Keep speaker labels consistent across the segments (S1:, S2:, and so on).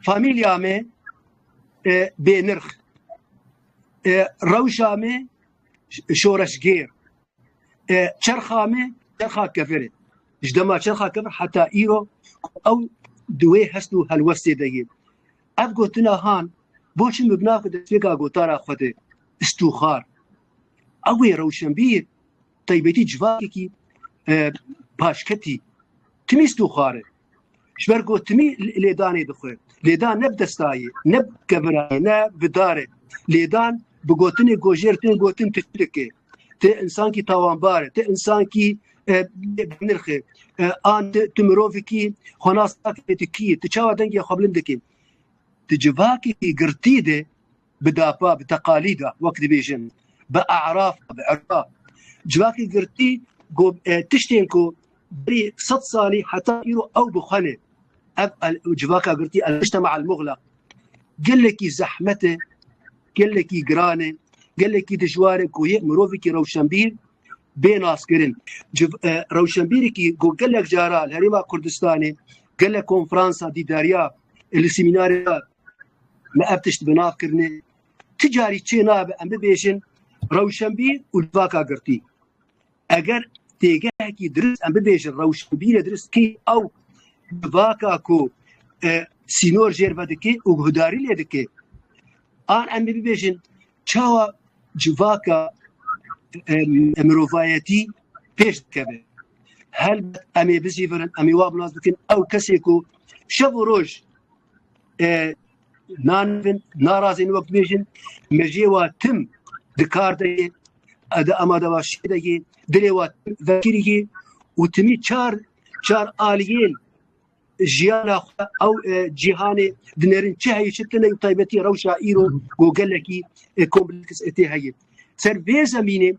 S1: famîlya me bênirx rewşa me şoreşgêr çerxa me çerxa kefir e ji dema çerxa kefir heta îro ew di wê hest û helwestê de ye ev gotina han boçi min binakir destpêka gotara xwe de istûxar ew ê rewşenbîr taybetî civakekî paşketî timî istûxar e ji ber gotinî lêdanê bi xwe lêdan ne bi destayê ne bi kevirayê ne bi darê lêdan bi gotinê gojêr tên gotin tu çi dikê tu insankî tawanbar e tu insankî nirxê an tu mirovikî xwenas tu kî tu çawa dengê xwe bilind dikî tu civakî girtî de bi dapa, bi teqalîda wek dibêjin, bi e'rafa, bi erfa. Civakê girtî ku e, tiştên ku berî sed salî heta îro ew bi xwe ne. Ev el- civaka girtî el-mujtema el-muxlaq gelekî zehmet e, gelekî giran e, gelekî dijwar e ku yê mirovekî rewşenbîr bê naskirin. Civ e, rewşenbîrekî ku gelek caran Herêma Kurdistanê gelek konferansa dîdariya li semînariya me ev tişt bi nav kirine. Ti carî çê nabe em bibêjin rewşenbîr û livaka girtî. Eger têgehekî dirist em bibêjin rewşenbîrê dirist kî ew livaka ku e, sînor jêr vedikê û guhdarî lê dikê. An em bibêjin Çawa civaka mirovayetî pêş dikeve. Helbet em ê bicîvirin, em ê wa bi nas bikin ew kesê ku şev û roj nanivin, narazên wek dibêjin, mejiyê wa tim di kar de yê, di amadebaşiyê de yê, dilê wa tim vekirî yê û timî çar çar aliyên jiyana xwe ew e, cîhanê dinêrin çi heyî çi tune û taybetî rewşa îro ku gelekî e, kompleks e tê heyî. Ser vê zemînê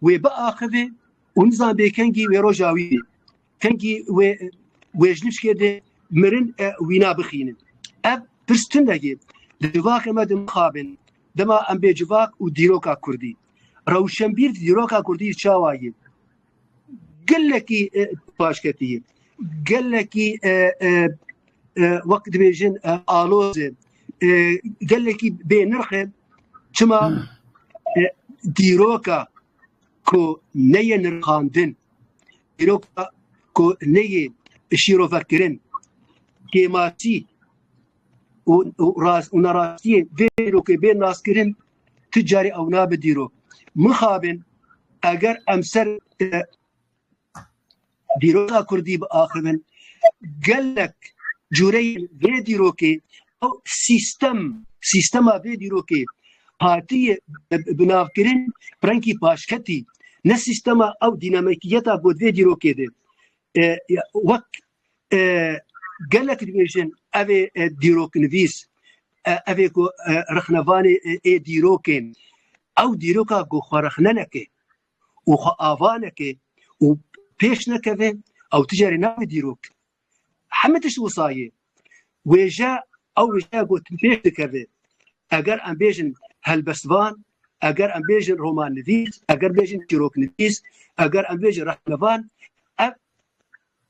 S1: wê biaxivê û nizan bê kengî wê roja wî bê. Kengî wê wê ji nişkê dê mirin e wîna bixînin. Ev pirs tundekê li civakê me din mixabin. Dema em bê civak û dîroka Kurdî. Rewşenbîr dîroka Kurdî çawa ye? gelekî paşketî ye gelekî wek dibêjin aloz e gelekî bê nirx e çima dîroka ku neyê nirxandin dîroka ku neyê şîrovekirin kêmasî û rast û nerastiyên vê dîrokê bê naskirin tu carî ew nabe dîro. Mixabin eger em ser dîroka Kurdî bi axivin gelek cûreyên vê dîrokê ew sîstem sîstema vê dîrokê hatiyê binavkirin rengî paşketî ne sîstema ew dînamikiyeta ku vê dîrokê de wek Gelek dibêjin evê dîroknivîs, evê ku rixnevanê ê dîrokê, ew dîroka ku xwe rixne neke û xwe ava neke û pêş nekeve ew ti carê nabe dîrok. Hemî tişt wisa ye. Wêje ew wêjeya ku ti pêş dikeve. Eger em bêjin helbestvan, eger em bêjin romannivîs, eger bêjin çîroknivîs, eger em bêjin rixnevan, ev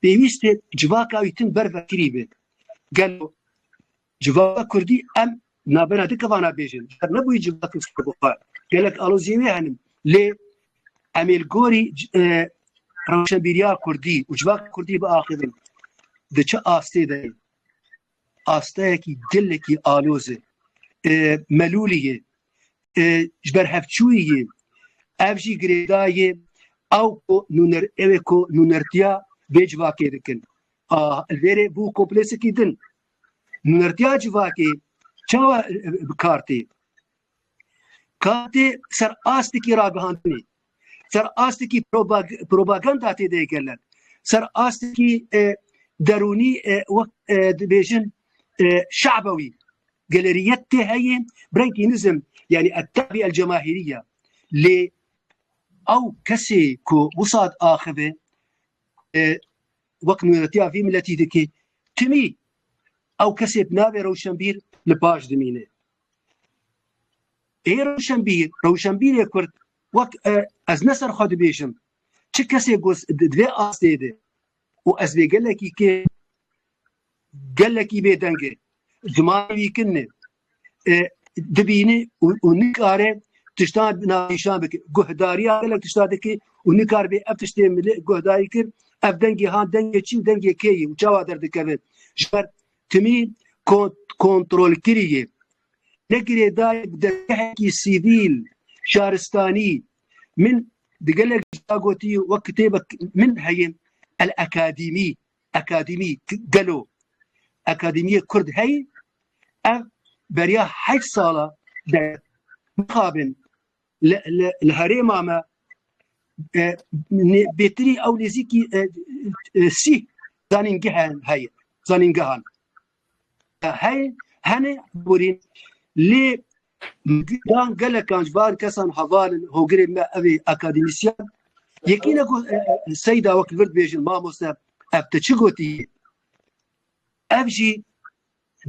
S1: Pêwîst e civaka wî tim ber vekirî be. Gelo civaka Kurdî em navbera di kevana bêjin. Her nebûyî civakê serbixwe. Gelek aloziyê wê henin. Lê em ê li gorî e, rewşenbîriya Kurdî û civaka Kurdî biaxivin. Di çi astê de ye? asteyekî gelekî aloz e, melûlî ye, ji ber hevçûyî ye, ev jî girêdayê ew ku nûner ewê ku nûnertiya vê civakê dikin. Li vêrê bû kompleksekî din. Nûnertiya civakê çawa bi kar tê? Katê ser astekî ragihandinê, ser astekî propaganda tê de kirilen, ser astekî e, derûnî e, wek e, dibêjin şabewî geleriyet tê heye brengî nizm yani ettabi el cemahiriye lê ew kesê ku wisad axive wek nûnetiya vî miletî dikê timî ew kesê navê rewşenbîr li paş dimîne. Ê rewşenbîr, rewşenbîrê kurd wek e, ez ne ser xwe dibêjim, çi kesê ku di vê astê de û ez vê gelekî kê gelekî bêdeng e, zimanê wî kin e, e, dibîne û û nikare tiştan navîşan bike. Guhdariya gelek tişta dike û nikar bê ev tiştê milê guhdarî kir, ev dengê han dengê çi û dengê kê ye û çawa derdikeve. Ji ber Timî kontrolkiriyê ne girêdayê bi dezgehekî sivîl şaristanî min di gelek jîya gotî wek kitêbek min heye El Akadîmî Akadîmî gelo Akadîmîyê Kurd heye ev beriya heşt sala de mixabin Li herêma me bêtirî ew nêzîkî sî zanîngehan heye zanîngehan heye hene borîn lê dan gelekan ji van kesan heval in hogirê me ev ê akademîsyan yekî ne seyda wek vir dibêjin mamoste ev te çi gotî ev jî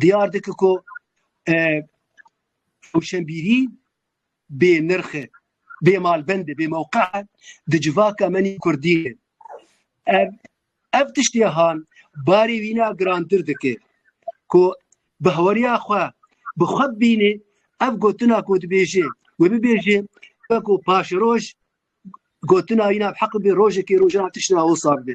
S1: diyar dike ku rewşenbîrî bê nirx e, bê malbend e, bê mewqe e di civaka me nî kurdî ne. Ev ev tiştê han barê wî na girantir dike ku bi heweriya xwe bi xwe bibînê ev gotina ku dibêje wê bibêje weko paşeroj gotina wî na bi heq bê rojekê rojan tişt na wisa bibe.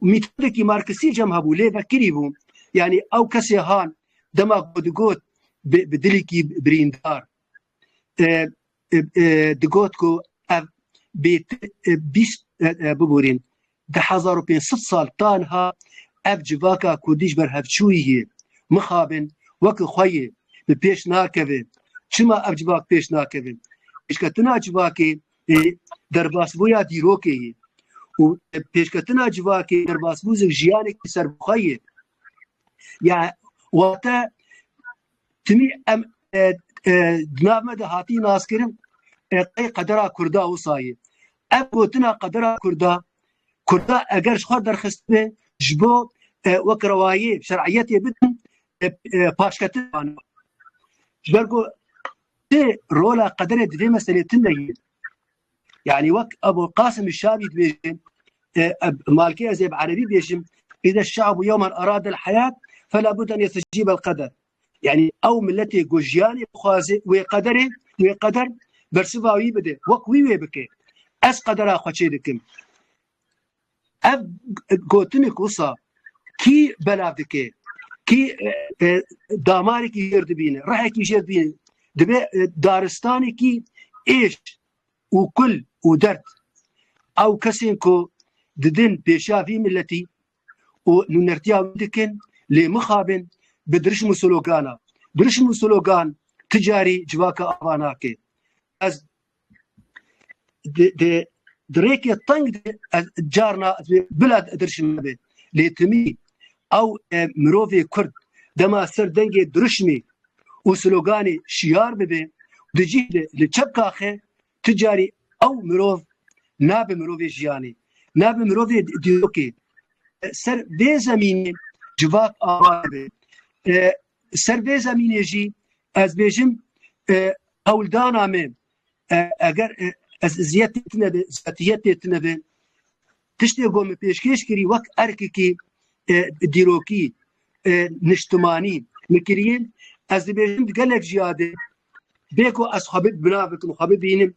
S1: Mîtodekî Marksî cem hebû lê vekirî bû. Yanî ew kesê han dema ku digot bi dilekî birîndar digot ku ev bêtir bîst bibûrîn di hezar û pênc sed sal tanha ev civaka kurdî ji ber hevçûyî yê mixabin weke xwe yê bi pêş nakeve. Çima ev civak pêş nakeve? Pêşketina civakê ê derbasbûya dîrokê yê û pêşketina civakê derbasbû zik jiyanekî serbixwe yê. Ya wate timî em e, e, di nav me de hatî naskirin e, qey qedera Kurda wisa yê. Ev gotina qedera Kurda Kurda eger ji xwe derxistibê ji bo e, wek rewayê şer'iyetê bidin e, e, paşketin wan. Ji ber ku Ti rola qederê di vê meselê tim vegîr. Yani wek Ebu Qasim Şabî dibêje malkê ez ê bi erebî bêjim îde şabu yewman arad el heyat fela bud en yesicîb el qeder. Yani ew milletê ku jiyanê bixwaze wê qederê wê qeder bersiva wî bide wek wî wê bike. Ez qedera xwe çê dikim. Ev gotinê ku wisa kî belav dike, kî damarekî jêr dibîne, rehekî jêr dibîne, dibe daristanekî êş û kul û derd. Ew kesên ku didin pêşiya vî miletî û nûnertiya wî dikin lê mixabin bi dirişm û slogana. Dirişm û slogan ti carî civaka ava nake. Ez de dirêkê teng de ez carna bila dirşim nebe lê timî ew e, mirovê kurd dema ser dengê dirişmê û sloganê şiyar bibe di cî de li çep kaxe ti carî ew mirov nabe mirovê jiyanê nabe mirovê dîrokê ser vê zemînê civak ava dibe Li ser vê zemînê jî ez bêjim hewldana me eger ez ziyet têtine be ziyetiyet têtine be tiştê ku min pêşkêş kirî wek erkekî dîrokî niştimanî min kiriye ez dibêjim di gelek jiyade bê ku ez xwe bina bikim xwe bibînim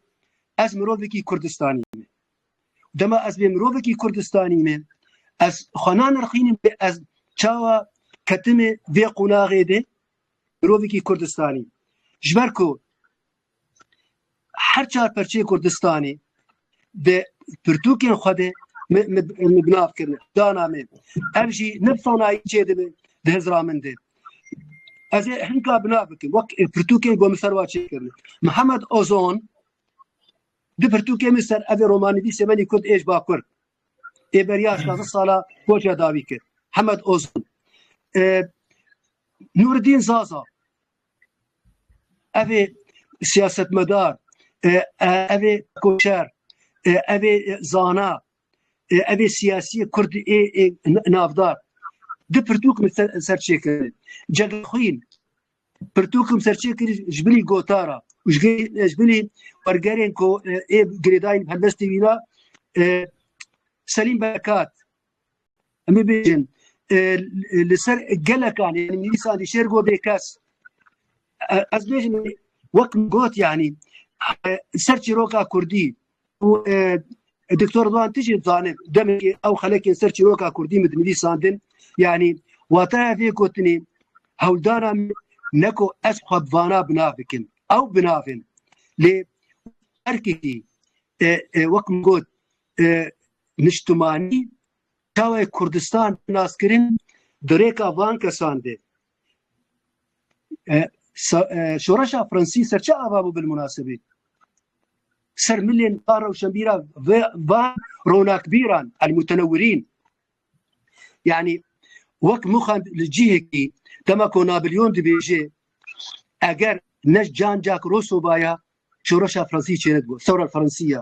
S1: ez mirovekî Kurdistanî me Dema ez bê mirovekî Kurdistanî me ez xwe nanirxînim bê ez çawa ketime vê qûnaxê de mirovekî Kurdistanî ji ber ku her çar perçê Kurdistanê de pirtûkên xwe de binav kirine dana me ev jî ne sanayî çê dibe di hezra min de ez ê hinka binav bikim wek pirtûkên gomiserwa çê kirine Mihemed Ozon Di pirtûkê min ser evê romanivîsê menî Kurd êj bakur ê beriya şazdeh sala koçya dawî kir. Hemed Ozun. Nuridîn Zaza evê siyasetmedar, evê koçer, evê zana, evê siyasiyê Kurd ê navdar. Di pirtûk min serçêkirin. Cegexwîn Pirtûkim serçêkirî ji binî gotara û ji binî wergerên ku ê girêdayîn helbestê wî ra Selîm Bekat em bibêjin li ser gelekan yanî nivîsan dî şêr got bêkes ez bêjim wek got yanî ser çîroka Kurdî û Doktor Ridwan tu jî zanê demekê ew xelekên ser çîroka Kurdî min dinivîsandin yanî wataya vê gotinê hewldana min neko ez xwe bi vana binav bikim ew binavên lê erkekî wek min got niştimanî çawa ye Kurdistan naskirin di rêka van kesan de Şoreşa Fransî ser çi ava bû bil munasebî? Ser milên a rewşenbîra va ronakbîran el mutenewirîn yanî wek mixan li cihekî dema ku Nabilyon dibêje eger ne cancak rosobaya şoreşa Fransî çêne dibû sewra Fransî ya.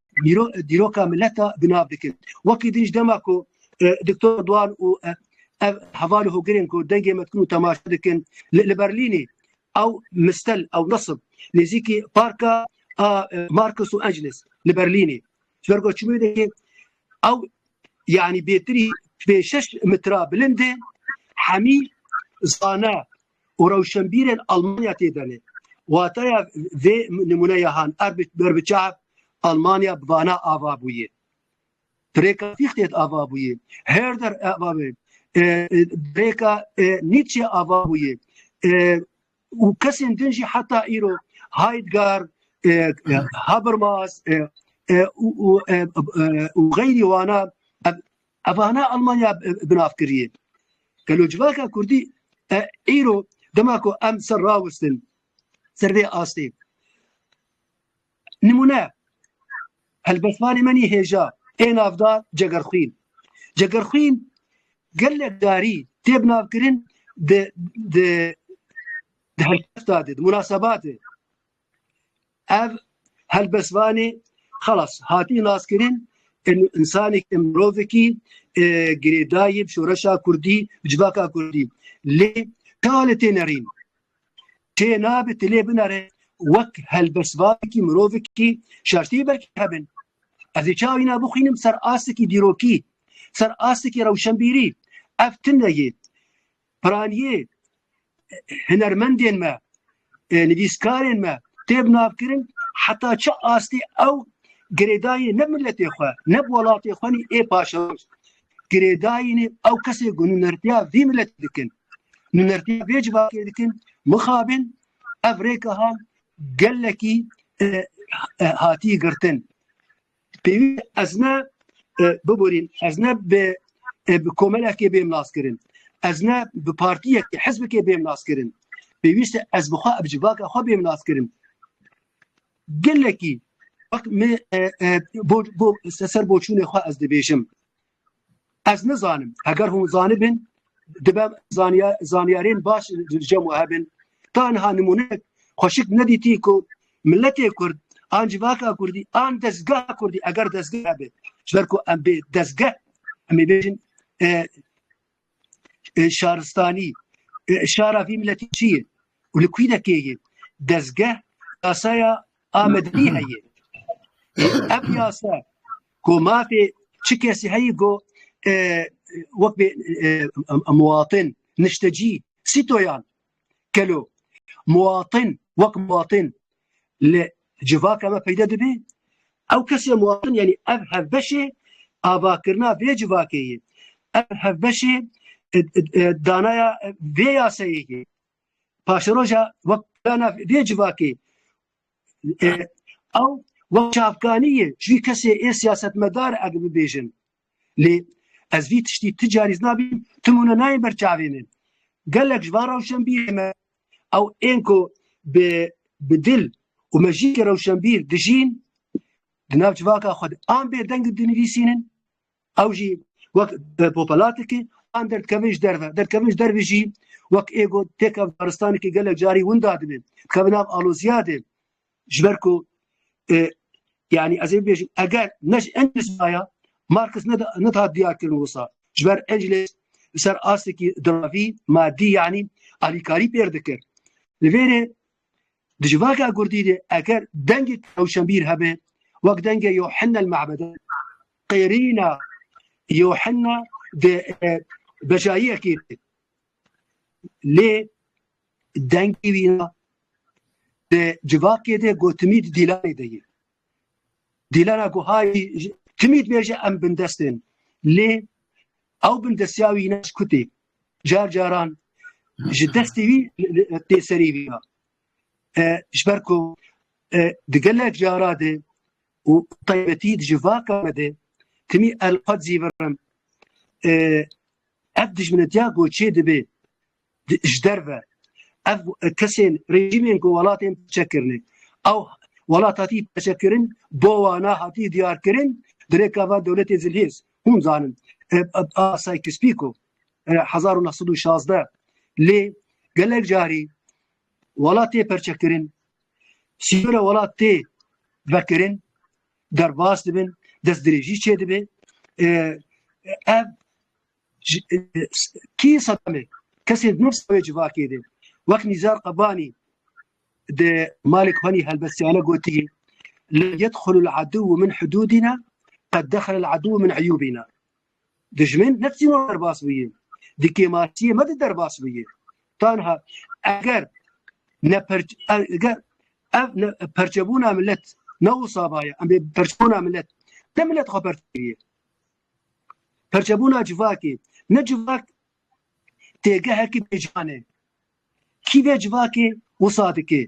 S1: dîroka mileta di nav dikin. Wekî din ji dema ku Doktor Duan û ev hevalê hogirên ku dengê me dikin û temaşe dikin li Berlînê ew mistel ew nasib nêzîkî parka a Markus û Angeles li Berlînê ji ber ku çimê dikê ew yanî bêtirî pê şeş mitra bilindê hemî zana û rewşenbîrên Almanya tê de ne. Wateya vê nimûneya han er berbiçav Almanya bi vana ava bûye. Pirêka Fichte ava bûye. Herder ava bê. Pirêka Nietzsche ava bûye. Û kesên din jî heta îro Heidgar, Habermas, û xeyrî wana Evana Almanya bi nav kiriye. Gelo civaka Kurdî îro dema ku em ser rawistin ser vê astê. Nimûne helbestvanê menî hêja ê navda Cegerxwîn. Cegerxwîn gelek darî tê bi navkirin di di di helkefta de, di munasebatê. ev helbestvanê xelas hatî naskirin insanek imrovekî e, girêdayê şoreşa Kurdî civaka Kurdî lê kale tê nerîn tê nabe tilê binare wek helbestvanekî mirovekî şertî belkî hebin ez ê çawî na bixwînim ser astekî dîrokî ser astekî rewşenbîrî ev tune yê Piraniyê hunermendên me, nivîskarên me tê binavkirin heta çi astê ew girêdayînê ne miletê xwe ne bi welatê xwe nî ê paşerost girêdayînê ew kesê ku nûnertiya vî miletê dikin nûnertiya vê civakê dikin mixabin ev rêka gelekî hatî girtin. Pêwîst ez ne biborîn, ez ne bi bi komelekê bêm naskirin. Ez ne bi partiyekê, hizbekê bêm naskirin. Pêwîst e ez bi xwe bi civaka xwe bêm naskirin. Gelekî wek me bo bo ser boçûnê xwe ez dibêjim. Ez nizanim. Heger hûn zanibin dibe zaniyarên baş li cem we hebin. Ta niha nimûnek xweşik nedîtî ku miletê Kurd an civaka Kurdî an dezgeha Kurdî eger dezgeh hebe ji ber ku em bê dezgeh em ê bêjin Şaristanî şara vî miletî çi ye û li kûî dekê ye dezgeh yasaya Amedî heye ev yasa ku mafê çi kesî heye ku wek bê muwatin niştecî sîtoyan Kelo muwatin wek muwatin li civaka me peyde dibî. Ew kesê muwatin yanî ev hevbeşê avakirina vê civakê ye. Ev hevbeşê e, e, e, danaya vê yaseyê ye. Paşeroja wek plana vê civakê ew wek çavkanî ye. Ji vî kesê ê siyasetmedar ev bibêjin. lê ez vî tiştî ti carî nabîm tu mûne nayê ber çavê min gelek ji van rewşenbîrê me ew ên ku bi bi dil û mejîkê rewşenbîr dijîn di nav civaka xwe de an bêdeng dinivîsînin ew jî wek popelatiki an derdkevin ji derve derdkevin ji dervê jî wek êgo têk Afganistanekî gelek carî winda dibin dikevin nav aloziyadê Ji ber ku e, yani ez ê bêjim eger ne ji Engels maya Markis nedihat diyarkirin wisa ji ber Engels li ser astekî diravî madî yanî alîkarî pêr dikir. Li vêrê di ji vaka Kurdî de eger dengê tewşenbîr hebe wek dengê Yohanna li mehbede qêrîna Yohanna de e, bejayiyekê Lê dengê wî na di civakê de got timîd dîlanê de ye. Dîlana ku hayî timîd bêje em bindest in. Lê ew bindestiya wî ne ji kutê. Car caran ji destê wî tê serê wî ya. Ji ber ku di gelek cara de û taybetî di civaka me de timî elqad zî virim Ev dijminetiya ku çê dibe ji derve, ev kesên rejîmên ku welatên pirçe kirine, ew welat hatiye pirçekirin, bo wana hatiye diyarkirin di rêka van dewletên zilhêz. Hûn zanin a Sykes-Picot hezar û neh sed û şazdeh lê gelek carî welat tê perçekirin, sîyora welat tê vekirin, derbas dibin, destdirêjî çê dibe. Ev kî Sedamê kesê nû wê civakê de wek Nîzar Qebanî di malê Kubanî helbestiyane gotî li yedxulul edû min hudûdîna qed dexilel edû min eyûbîna. Dijmin ne tîno derbas bûye. Di kêmartiyê me de derbas bûye. Tanha eger ne eger ev ne perçebûna millet ne wisa baye em bê perçebûna millet ne millet xwe perçebûye. Perçebûna civakê ne civak têgehekî bêcanê. Kî vê civakê wisa dike?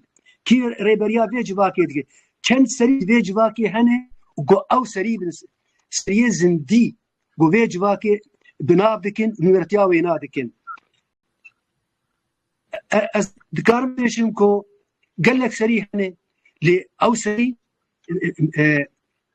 S1: Kî rêberiya vê civakê dike? Çend serî vê civakê hene û ku ew serî bin seriyê zindî ku vê civakê bi nav dikin û nûnertiya wêna dikin. Ez dikarim bêjim ku gelek serî hene lê ew serî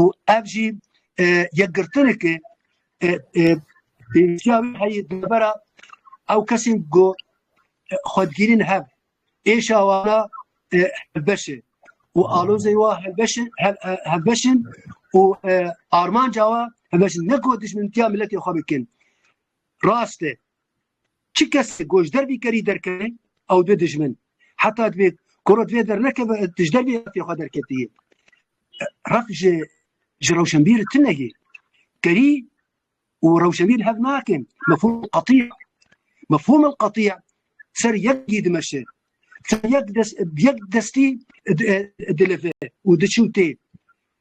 S1: û ev jî yekgirtinekê pêwîstiya wî heyî dibera ew kesên ku xwe digirîn hev êşa wana hevbeşê û alozê wa hevbeşê hevbeşên û armanca wa hevbeşin ne ku dijmintiya miletê xwe bikin. Rast e Çi kesê ku ji dervî kerî derkeve ew dibe dijmin. Heta divê ku rot vê dernekeve tu ji dervê refê xwe derketiyê. Ref ji ji rewşenbîr tune ye. Kerî û rewşenbîr hev nakin. Mefhûm qetî ye. Mefhûm el qetî ye ser yek dî dimeşe. Ser yek dest yek destî dileve û diçû tê.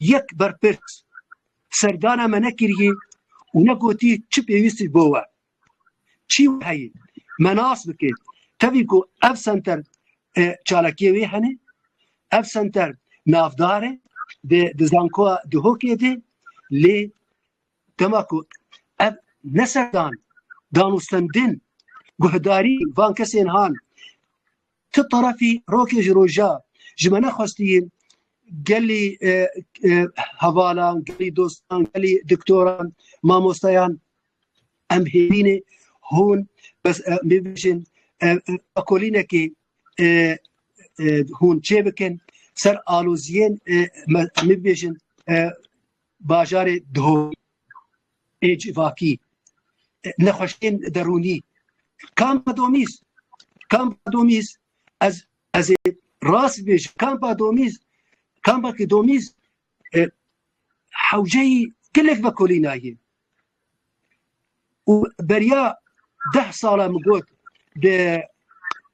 S1: Yek berpirs serdana me nekiriye û negotiye çi pêwîstî bo we. Çî wê heye me nas bike tevî ku ev senter çalakiyê wê hene, ev senter navdar e di di zankoa Duhokê de lê dema ku ev ne serdan danûstendin guhdarî van kesên han Ti tarafî rokê ji roja ji me nexwestiyîn gelî hevalan, gelî dostan, gelî doktoran, mamostayan em hêvînê hûn bêbijin akolînekê hûn çê bikin ser aloziyên bêbijin bajarê Dihokê. ê civakî, nexweşiyên derûnî kampa domîz kampa domîz ez ez ê rast bêjim kampa domîz kampakî domîz e, hewceyî gelek vekolînayê û beriya deh sala min got di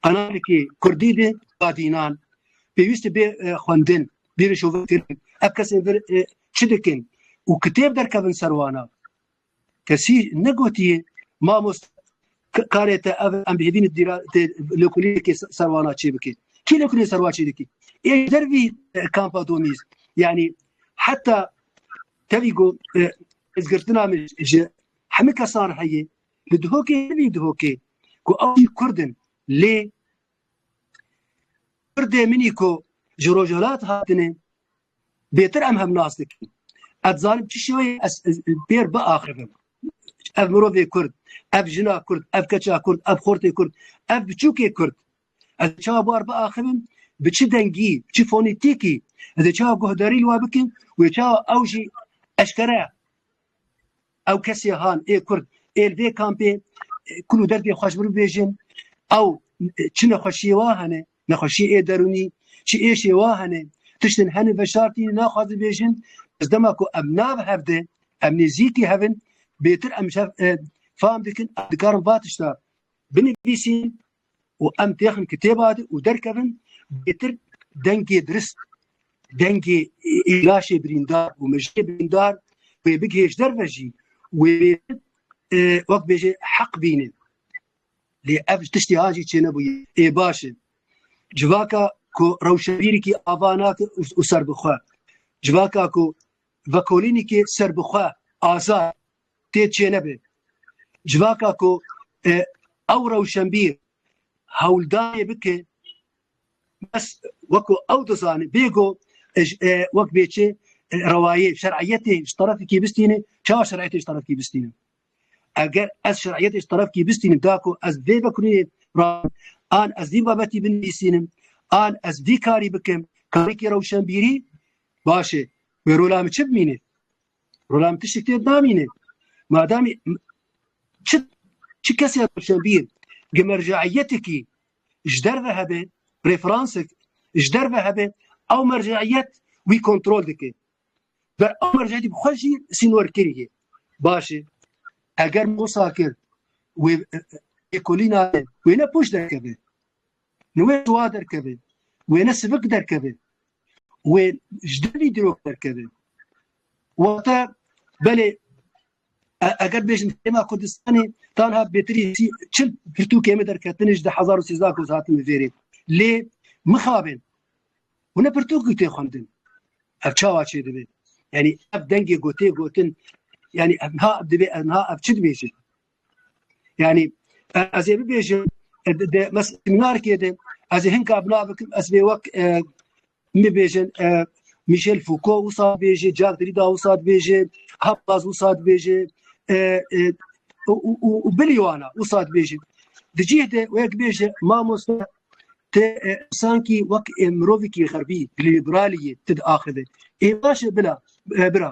S1: qanalekî kurdî de badînan pêwîst bê e, xwendin Bêrê şovê kirin. Ev kesên vir e, çi dikin? Û kitêb derkevin ser wana. Kesî negotiye mamoste karê te ev em bihêvîn dîra tê lêkolîyekê ser wana çê bike. Kî lêkolîyê ser wan çê dikî? Ê der vî e, kampa domîz. Yani heta tevî got e, ez girtina min ji hemû kesan heye li dihokê vî dihokê ku ew jî kurdin lê Kurdê minî ku ji Rojhilat hatine bêtir em hev nas dikin. Ez dizanim çi şêweyê ez pêr biaxivim. Ev mirovê Kurd, ev jina Kurd, ev keça Kurd, ev xortê Kurd, ev biçûkê Kurd. Ez ê çawa bar biaxivim, bi çi dengî, bi çi fonîtîkî ez ê çawa guhdarî li we bikim, wê çawa ew jî eşkere Ew kesê han ê kurd ê li vê kampê kul û derdê xweş bir bibêjin ew çi nexweşiyê wa hene nexweşiyê ê derûnî çi êşê wa hene tiştin hene veşartî naxwazin bêjin ez dema ku em nav hev de em nêzîkî hevin bêtir em fam dikin dikarin va tişta binivîsîn û em têxin kitêba de û derkevin bêtir dengê dirist dengê îlaşê birîndar û mijê birîndar wê bigihêj derve jî wê wek bêje heq bînin lê ev tiştê hajî çê nebûye ê baş e civaka ku rewşevîrikî ava nake û serbixwe civaka ku vekolînîkê serbixwe azad tê çênebê. Civaka ku ew rewşenbîr hewldanê bike bes weko ew dizane bêgo wek bêçê rewayê şer'iyetê ji terefekî bistîne çawa şer'iyetê ji terefekî bistîne. Eger ez şer'iyetê ji terefekî bistînim da ku ez vê vekurê ra an ez vî babetî binivîsînim an ez vî karî bikim karekî rewşenbîrî başê wê rola min çi bimîne. Rolam tiştek tê namîne. Madamî çi çi kesê Rewşenbîr gi merceîyetekî ji derve hebe referansek ji derve hebe ew merceîyet wî kontrol dike. Ber ew merceîyetî bi xwe jî sînorkirî ye. Baş e eger Mosa kir wê ekolîna wê ne pûç derkeve. Li wê siwa derkeve, wêne sivik derkeve, wê ji devî dirok derkeve. Wate belê eger bêjin hêma Kurdistanê tanha bêtirî çil pirtûkê me derketine ji di hezar û sêzdeh ku hatine vêrê. Lê mixabin hûne pirtûk û tê xwendin. Ev çawa çê dibe? Yani ev dengê gotê gotin yani ev niha ev dibê ev niha ev çi dibêje? Yani ez ê bibêjim de mes seminarkê de ez ê hinka bina bikim ez bê wek mibêjin Michel Foucault wisa bêjê Jack Derrida wisa dibêjê Hablaz wisa dibêjê û bilî wana wisa dibêjê di cih de wek bêje mamoste te sanki wek mirovekî xerbî liberaliyê ti diaxive ê baş bila bira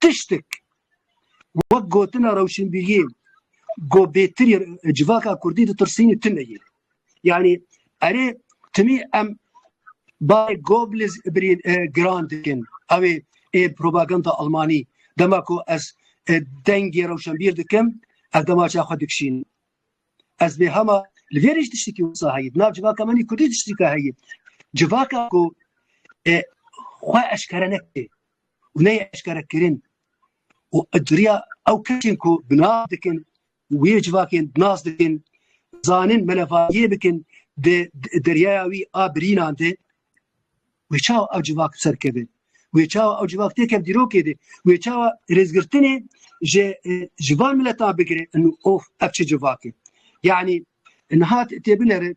S1: Tiştek wek gotina rewşinbîriyê ku bêtirî civaka kurdî ditirsînî tune ye. Yanî erê timî em barê Goebbels giran dikin. Ew ê ê propaganda Almanî dema ku ez dengê rewşenbîr dikim ez demaça xwe dikişînim. Ez bê hema li vêrê jî tiştekî wisa heye. Di nav civaka min kurdî tiştekî heye. Civaka ku xwe eşkere nekiriye. û neyê eşkerekirin û duriya ew kesên ku binav dikin wê civakên nas dikin zanin melevayiyê bikin di deryaya wî a birînan de wê çawa ew civak serkeve wê çawa ew civak têkev dîrokê de wê çawa rêzgirtinê ji e, ji van mileta bigire of ev çi civakê yanî nihat têbinere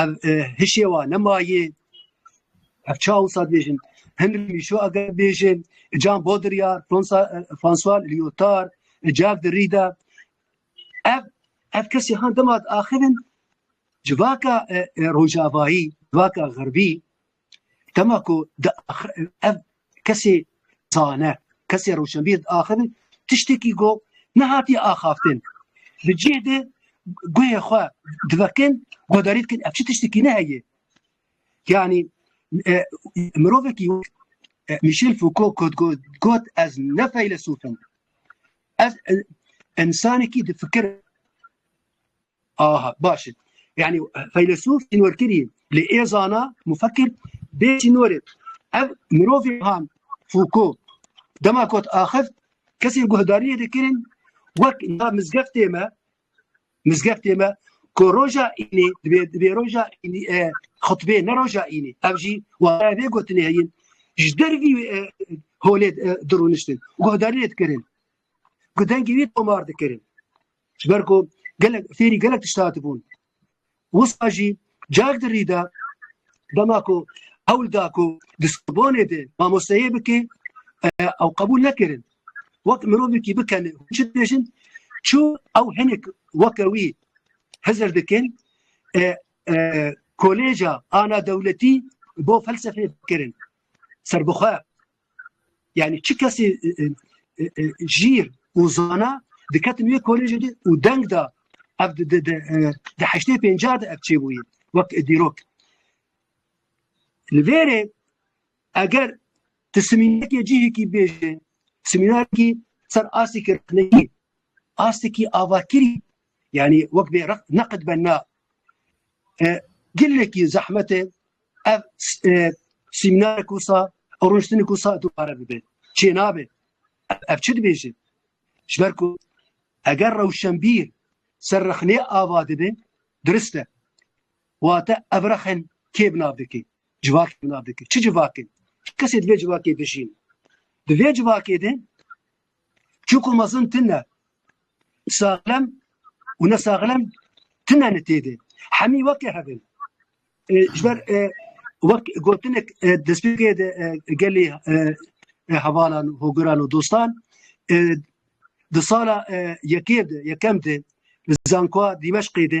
S1: ev hişê wa nemayê ev çaw wisa dibêjin Henry Michaud eger bêjin Jean Baudrillard François Lyotard Jacques Derrida ev ev kesî han dema axivin civaka rojavayî civaka xerbî Dema ku ev kesê zane, kesê rewşenbîr diaxivin, tiştekî got nehatiye axaftin. Di cih de guhê xwe divekin, guhdarî dikin ev çi tiştekî ne heye. Yanî e, mirovekî e, Michel Foucault ku got ez ne feylesûfim. Ez e, insanekî difikir Aha baş e. Yani feylesof çînorkirî li êzana mufekir bê çînorê. Ev mirovê han Fûko dema kot axir kesên guhdariyê dikirin wek na mizgeftê me mizgeftê me ku roja înê dibê dibê roja înê e, xutbê ne roja înê ev jî wara vê gotinê heyin ji dervî e, holê e, dirûniştin guhdariyê dikirin ku dengê wî tomar dikirin Ji ber ku gelek fêrî gelek tişt hatibûn. Wisa jî carek di rî de dema ku hewl da ku di Sorbonê de mamosteyê bike ew qebûl nekirin. Wek mirovekî bikene hûn çi dibêjin çû ew hinek weke wî hizir dikin kolêca ana dewletî bo felsefeyê bikirin serbixwe Yani çi kesê jîr û zana diketin wê kolejê de û deng da ev di heştê pêncah de ev çêbûyî wek dîrok. Li vêrê eger ti simînekê cihekî bêje simînarkî ser astekî rexnekî astekî avakirî Yanî wek bê req neqid be na. Gelekî zehmet e ev sîmînarek wisa ew rûniştinê ku sa dubare bibe. Çê nabe. Ev çi dibêje? Ji ber ku eger rewşenbîr ser rexnê ava dibe dirist e. Wate ev rexen kê bi nav dike? Civakê bi nav dike. Çi civakê? Çi kesê di vê civakê de jîn? Di vê civakê de Çuku mezin tine sağlem û ne sağlem tine ne têdê. Hemî wekê hebin. Ji ber wek gotinek despêkê de gelê hevalan û hogiran û dostan di sala yekê de yekem de li zankoa Dîmeşqê de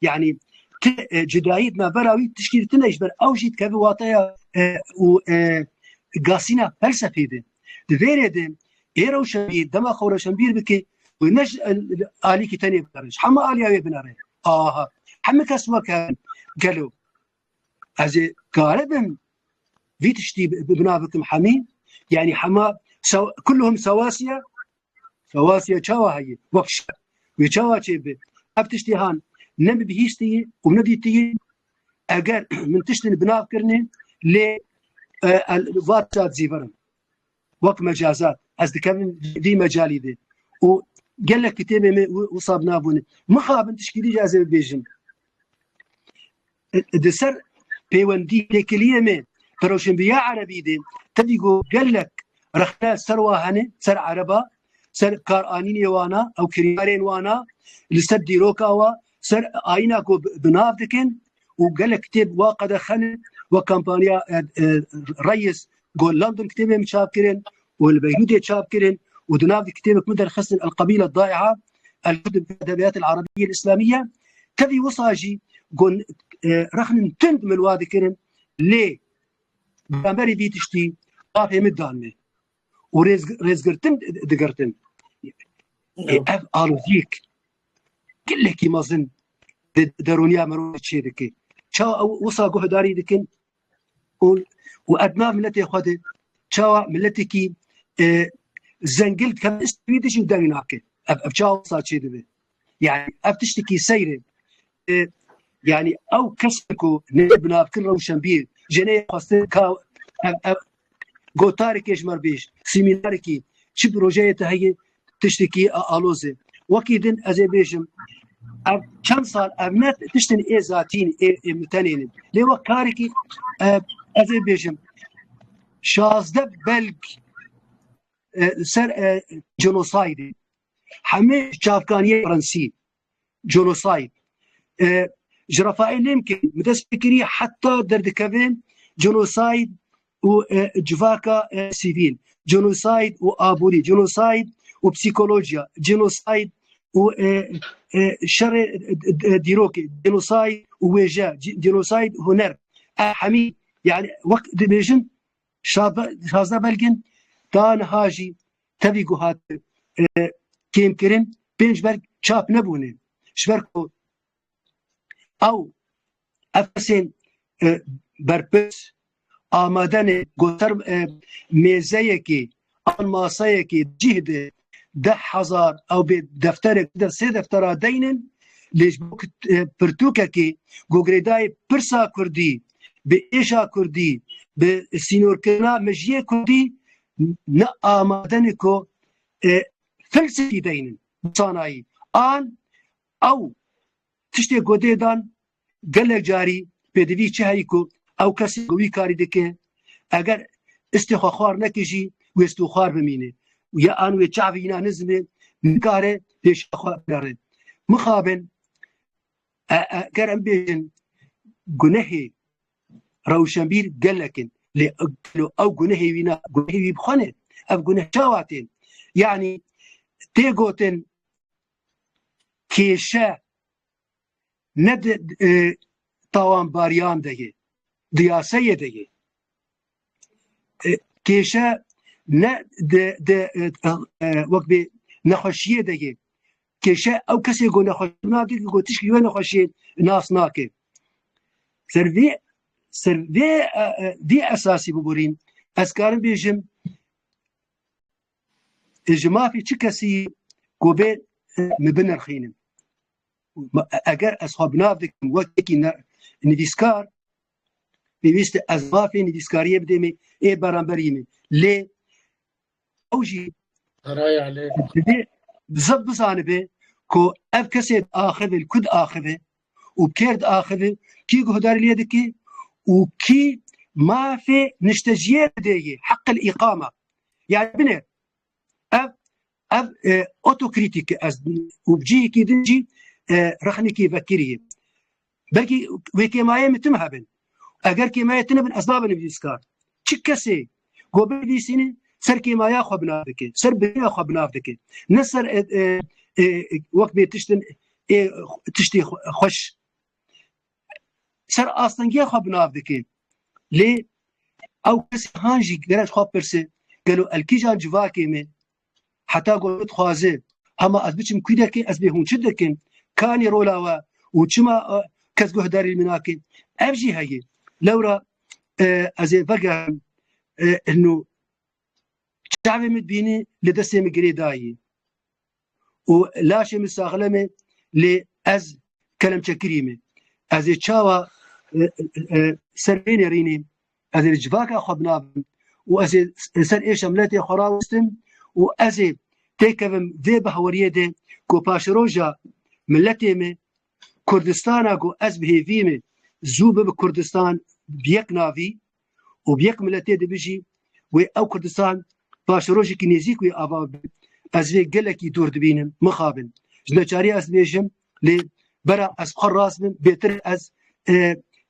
S1: یعنی tu cudayî di navbera wî tiştî li tune ji ber ew jî dikeve wateya û gasîna felsefê de di vê rê de ê rewşenbîr dema xwe rewşenbîr bike wê ne ji alîkî tenê binare ji hema aliya wê binare aha hemû kes weke gelo ez ê kare bin vî tiştî bina bikim hemî yanî hema kulhum sewasiye Xewasiya çawa heye wek şer wê çawa çêbi ev tiştê han ne bi bihîstiyê û ne dîtiyê eger min tiştên binav kirine lê vat çat zîvirin wek mecazat ez dikevin dî mecalî de û gelek kitêbê me wisa binabûne mixabin tişkî dî ez ê bibêjim Di ser pêwendî têkiliyê me bi rewşenbîriya erebî de tevî ku gelek rexne ser wa hene, ser ereba, ser karanînê wan a, ew kiryarên wan a, li ser dîroka wa, ser ayîna ku bi nav dikin û gelek kitêb wa qedexe ne, wek kampaniya Reyis ku London kitêbê min çap kirin û li Beyrûdê çap kirin û di nav di kitêbek min derxistin El-Qebîle Eddaî'a, El-Hudn fî Edebîyat El-Erebîyye El-Îslamîyye, tevî wisa jî ku rexnin tund min wa dikirin lê beramberî vî tiştî avê min dan min û rêzgirtin digirtin. Ev aloziyek gelekî mezin di derûniya mirovê çêdike. Çawa ew wisa guhdarî dikin û ev nav miletê xwe de çawa miletekî zengil dikeve ji wî de jî deng nake ev çawa wisa çê dibe yanî ev tiştekî seyr e yanî ew kes ku neyê binavkir rewşenbîr jê neyê xwestin ka ev Gotarê kêşmerbêj, semînarekî, çi projeyê te heye tiştekî aloz e. Wekî din ez ê bêjim ev çend sal ev ne tiştin ê zatîn ê mitenênin. Lê wek karekî ez ê bêjim şazde belg li ser genosaydê hemê çavkaniyê fransî genocide. Ji Rafael Lemkin bi dest pê kirî heta derdikevin genocide û civaka sivîl, genocide û aborî, genocide û psîkolojiya, genocide û şerê dîrokê, genocide û wêje, genocide huner. Ev hemî yani wek dibêjin Şazda Belgin ta niha jî tevî ku hat kêmkirin pênc berg çap nebûne ji ber ku ew ev kesên berpirs amade ne goter mêzeyekê an masayekê cih de deh hezar ew bê defterek de sê deftera deynin lêj bo pirtûkekê ku girêdayê pirsa kurdî bi êşa kurdî bi sînorkirina mejiyê kurdî ne amadene ku felsefî deynin sanayî an ew tiştê ku dê dan Gelek carî pêdivî çi heyî ku ew kesê ku wî karî dike eger istê xwe xwar neke jî wê stû xwar bimîne û ya an wê çavê înan nizim e nikare pêşiya xwe bigere. Mixabin eger em bêjin gunehê rewşenbîr gelek in lê gelo ew gunehê wî ne gunehê wî bi xwe ne ev guneh çawa tê yanî tê gotin kêşe ne di tawanbariyan de ye, di yasayê de ye. Kêşe ne di wek bê nexweşiyê de ye. Kêşe ew kesê ku nexweş nake ki ku tişkî wê nexweşiyê nas nake. Ser vê ser vê vê esasî biborîn ez karim bêjim ji mafê çi kesî yî ku bê min binirxînim. Eger ez xwe binav dikim wekekî nivîskar pêwîst ez mafê nivîskariyê bidê min ê beramberî min lê ew jî dibê zeb bizanibe ku ev kesê axivê li ku diaxive û kêr diaxive, kî guhdarî lê dike û kî mafê nişteciyê didê yê, heqil îqama. Yani bine ev ev e, otokritik ez û cihekî din jî e, rexnekî vekirî. Belkî wê kêmayê min tim hebin. Eger kêmayê tine bin ez nabin nivîskar. Çi kesê Go bê lîsînê ser kêmaya xwe binav dike, ser bêya xwe binav dike. Ne ser wek bê tiştin tiştê xweş. Ser astengiya xwe binav dike. Lê ew kesê han jî gerek xwe pirse gelo elkîjan civakê me Heta ku min dixwaze hema ez biçim kû deke ez bê hûn çi dikin kanî rola we û çima kes guhdarî min nake ev jî heye lewra ez ê vegerim nû çavê min bînî li destê min girê dayî û laşê min saxile me lê ez kelemçekirî me ez ê çawa serê nerînê Ez ê li civaka xwe binavim û ez ê li ser êşa miletê xwe rawestim û ez ê têkevim vê bihaweriyê de ku paşeroja miletê me Kurdistana ku ez bi hêvî me zû bibe Kurdistan bi yek navî û bi yek miletê dibijî wê ew Kurdistan paşerojekî nêzîk wê ava bibe ez vê gelekî dûr dibînim mixabin ji neçarî ez dibêjim lê bera ez xwe rast bim bêtir ez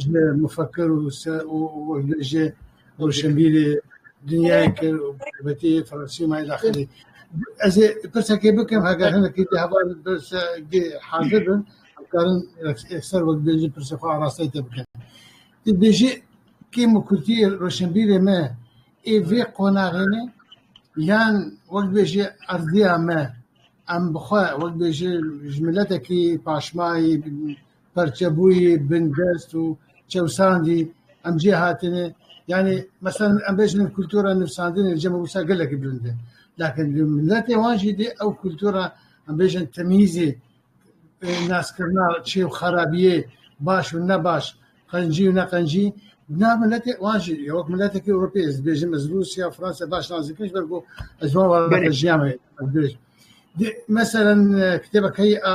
S1: ji mufekkir û jê rûşenbîrê dinyayê kir û taybetî Fransîmayê daxilî. Ez ê pirsekê bikim heger hinekî di hevalê pirsgê hazir bin dikarin ser wek bêjin pirsê xwe arasteyê te bikin. Tu bêjî kêm û kurtî rûşenbîrê me ê vê qonaxê ne yan wek bêjî erdîya me em bi xwe wek bêjî ji miletekî paşmayî Perçebûyî, bindest û çewsandî em cê hatine. Yanî meselen em bêjin kultura nivsandinê li cem Rûsa gelekî bilind e. Lakin li miletê wan jî dê ew kultura em bêjin temîzê, naskirina çê û xerabiyê, baş û ne baş, qencî û ne qencî nav miletê wan jî wek miletekî Ewropî ez dibêjim ez Rûsya û Fransa baş nazikim ji ber ku ez wan ve jiyame. Dê meselen kitêbekeyî a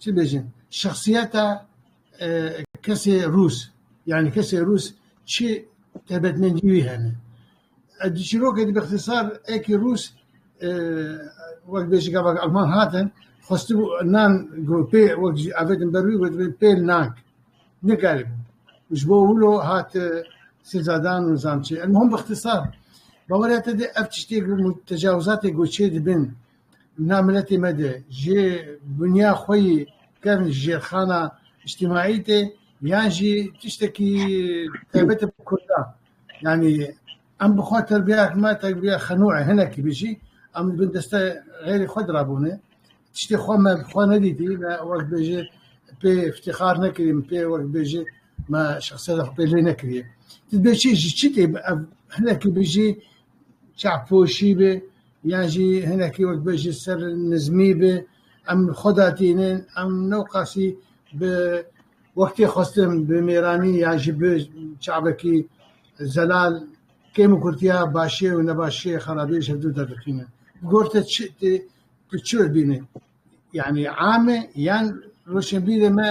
S1: Çi bêjin? Şexsiyeta kesê rûs, yanî kesê rûs çi taybetmendî wî hene? Di çîrokê de bi îxtîsar ekî rûs wek bêjin gavak alman hatin, xwestibû nan pê wek jî avêtin ber wî gotibê pê nank. Nikaribû. Ji bo wilo hat sêzadan û zamçê. El-muhim bi îxtîsar, bawerê te de ev tiştê ku tecawizatê ku çêdibin Na miletê me de jê bûniya xwe yî kevn ji jêrxana îctîmaî tê yan jî tiştekî taybet e bi kurdan. Yanî em bi xwe terbiyeyek me terbiya xenû e hinekî bi jî em li bin deste xêrê xwe di rabûnê. Tiştê xwe me bi xwe nedîtî me wek bêje pê îftîxar nekirî min pê wek bêje me şexsiyeta xwe pê lê nekiriye. Ti dibê çi ji çi tê ev hinekî bi jî çavpoşî be yan jî hinekî wek bêjin ser nizmî be em li xwe de tînin em ne qasî bi wextê xwestin bi mêranî yan jî bi çavekî zelal kêm û kurtiya başê û nebaşê xerabî ji hev du derdixînin. Bi gor te çi tu çi bibînî? Yanî am e yan roşnbîrê me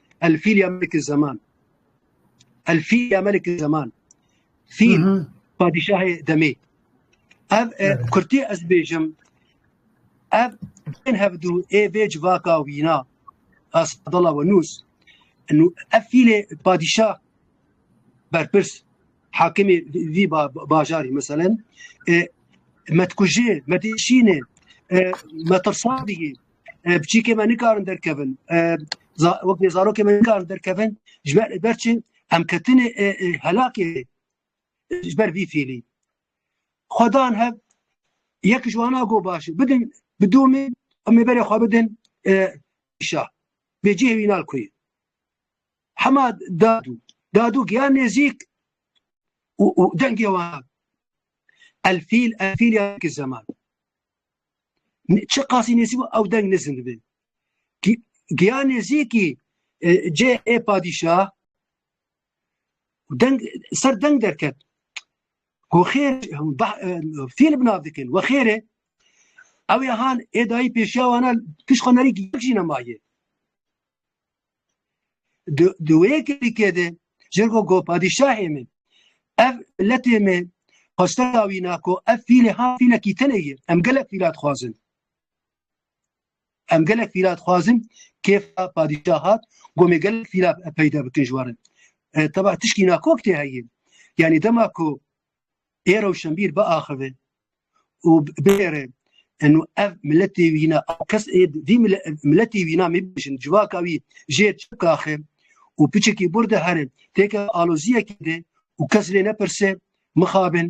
S1: Elfîl ya Melikî Zeman. Elfîl ya Melikî Zeman. Fîl padîşahê demê. Ev kurtî ez bêjim ev bên hevdû ê vê civaka wîna ez dala we nûs nû ev fîlê padîşah berpirs hakimê vî bajarî meselen metkujê medîşînê metirsadî بچیکێ me nikarin derkevin wek bê zarokê me nikarin derkevin ji ber ber çi em ketinê helakê ji ber vî fîlî xwedan hev yek ji wana go baş bidin bi domê em ê berê xwe bidin şa bê cihê wî nal kuyê hema dadû dadû giyan nêzîk û dengê wan elfîl elfîl ya ki zeman Çi qasî nêzî bû ew deng nizin dibe. Giya nêzîkî e, cê ê e padîşah deng ser deng derket. Ku xêr e, fîl binav dikin we xêrê ew ê han ê dayî pêşiya wana pişxanerî yek jî nemayê. Di wê yekirîkê de ji ber ku padîşahê me ev miletê me xweste dawîna ku ev fîlê ha fîlekî tenê ye em gelek fîla dixwazin. Em gelek fîla dixwazin kêfa padîşah hat gomê gelek fîla peyda bikin ji warin. Teba tişkî nakok tê heye. Yanî dema ku ê rewşenbîr biaxive û bigere eno ev miletê wî ne kes ê vî miletê wî ne mebijin civaka wî jê çikaxe û piçekî bur de here têke aloziyekê de û kes lê nepirse mixabin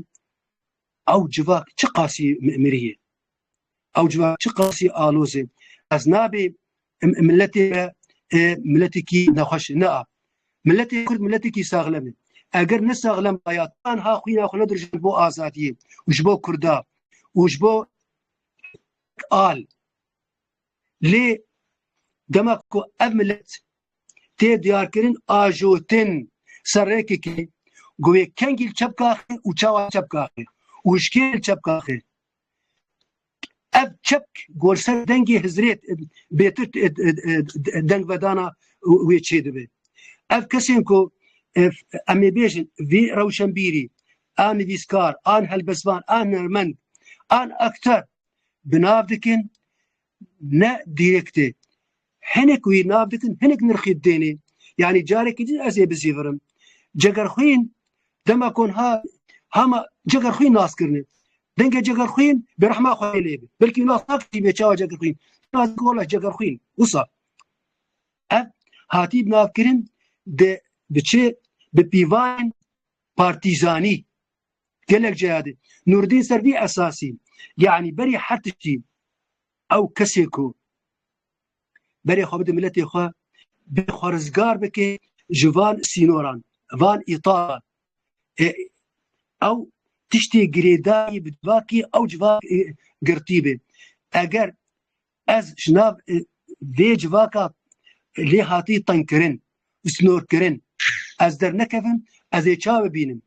S1: ew civak çi qasî miriyê ew civak çi qasî alozê ez nabê miletê me e, miletekî nexweş ne a miletê kurd miletekî saxlem e eger ne saxlem aya tanha xwîna xwe nedirjand bo azadiyê û ji bo kurda û ji bo al lê dema ku ev milet tê diyarkirin ajotin serrêkekê govê kengîl çepkaxê û çawa çepkaxê û ji kêl çepkaxê ev çep gorser dengê hizrêt bêtir dengvedana wê çê dibe. Ev kesên ku em ê bêjin vî rewşenbîrî, a nivîskar, an helbesvan, a hunermend, an akter binav dikin ne dîrektê. Hinek wî nav dikin, hinek nirxî dênê. Yanî carekî din ez ê bizîvirim. Cegerxwîn dema kon ha hama cegerxwî nas kirine. Dengê cegerxwîn bi rehma xwe lê bi. Belkî nas nakirî bê çawa cegerxwîn. Nas dikin wala cegerxwîn. Wisa ev hatî navkirin de bi çi bi pîvanên partîzanî gelek ceyadî Nurdîn ser vî esasî yanî berî her tiştî ew kesê ku berê xwe bide miletê xwe bê xwe rizgar bike ji van sînoran van îtaran e, ew tiştê girêdayî bi civakî ew civak e, girtî bê eger Ez ji nav vê civaka lêhatî tengkirin û snorkirin ez dernekevim, ez ê ça bibînim.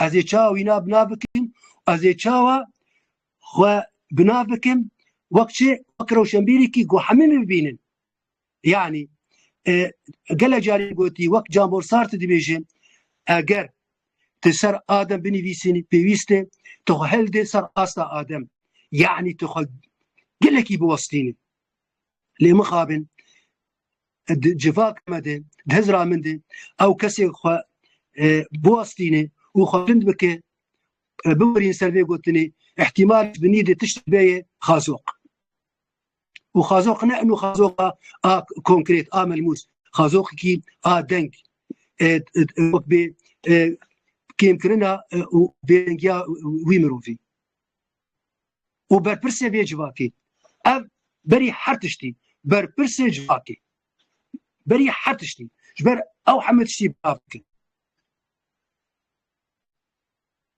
S1: Ez ê ça wîna bina bikim û ez ê çawa xwe bina bikim wek çi wek rewşenbîrîkî ku hemî min bibînin. Yani gele carî gotî wek Jean-Paul Sartre dibêje eger tu ser adem binivîsînî pêwîst e tu xwe hildê ser asta adem yanî tu xwe gelekî biwestînî lê mixabin civak me de di hizra min de ew kesê xwe biwestînê û xwe bilind bike biwerîn ser vê gotinê ihtimal binî de tişt beye xazoq û xazoq ne inu xazoqa a konkret a melmûs xazoqekî a deng wek bê kêmkirina û bêdengiya wî mirovî û berpirsê vê civakê ev berî her tiştî berpirsê civakê berî her tiştî ji ber ew heme tiştî bavkin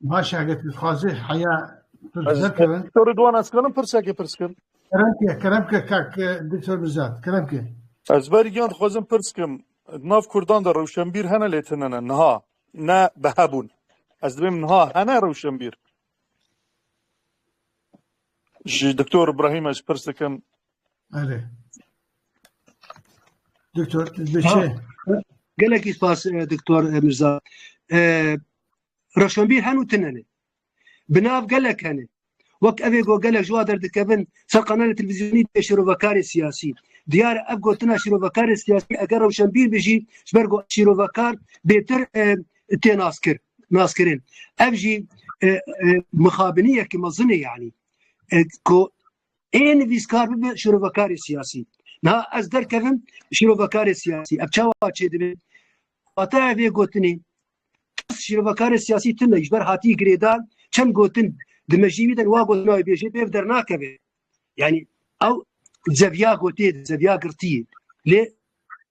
S1: Baş eget xazê heya Zerkevin. Doktor Rıdvan ez kalim pirseke pirs kim? Keremke, keremke kak Doktor Mizat, keremke. Ez ber yan xwazim pirs kim. Nav Kurdan da rewşenbîr hene lê tinene niha ne bi hebûn. Ez dibêm niha hene rewşenbîr. Ji Doktor İbrahim ez pirs dikim Elê. Doktor, beşe. Gelekî spas Doktor Mirza. Reşanbîr henu tinenê. Binav gelek hene. Wek evê go gelek ji wa derdikevin ser qanalê televîzyonî dê şîrovekarê siyasî. Diyar ev gotina şîrovekarê siyasî eger rewşenbîr bi jî ji ber ku şîrovekar bêtir tê naskir naskirin. Ev jî mixabiniyekî mezinê yanî ku Ê nivîskar bibe şirovekarê siyasî. Niha ez derkevim şirovekarê siyasî. Ev çawa çêdibe? Hata ev ê gotinê. Kes şirovekarê siyasî tune ji ber hatî girêdan çend gotin di mejî wî de wa gotina wê bêjê pêv dernakeve. Yani ew zeviya gotê, zeviya girtiyê. Lê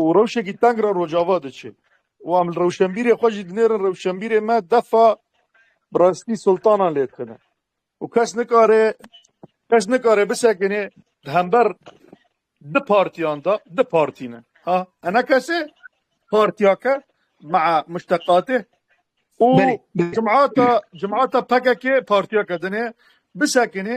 S1: û rewşekî teng re Rojava diçe û em li rewşenbîrê xwe jî dinêrin rewşenbîrê me defa bi rastî sultanan lê tune û kes nikare kes nikare bisekinê di hember di partiyan de di partî ne ha ene kesê partiya ke maa muşteqatê û cimata cimata pekekê partiya ke dinê bisekinê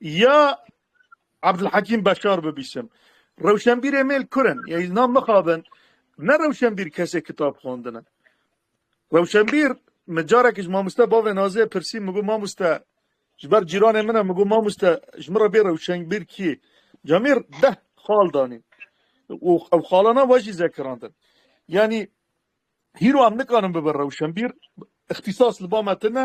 S1: ya Abdulhakim Beşar bibîsim. Rewşenbîrê mêl kurin, ya îlna mixabin, ne rewşenbîr kesê kitab xwandine. Rewşenbîr, min carek ji mamoste bavê Nazê pirsî, min got mamoste, ji ber cîranê min e, min got mamoste ji min re bê rewşenbîr kî ye? Camîr deh xal danî û ew xalana wajî zekirandin. Yanî Hîro em nikarin bibin rewşenbîr, îxtîsas li ba me tune.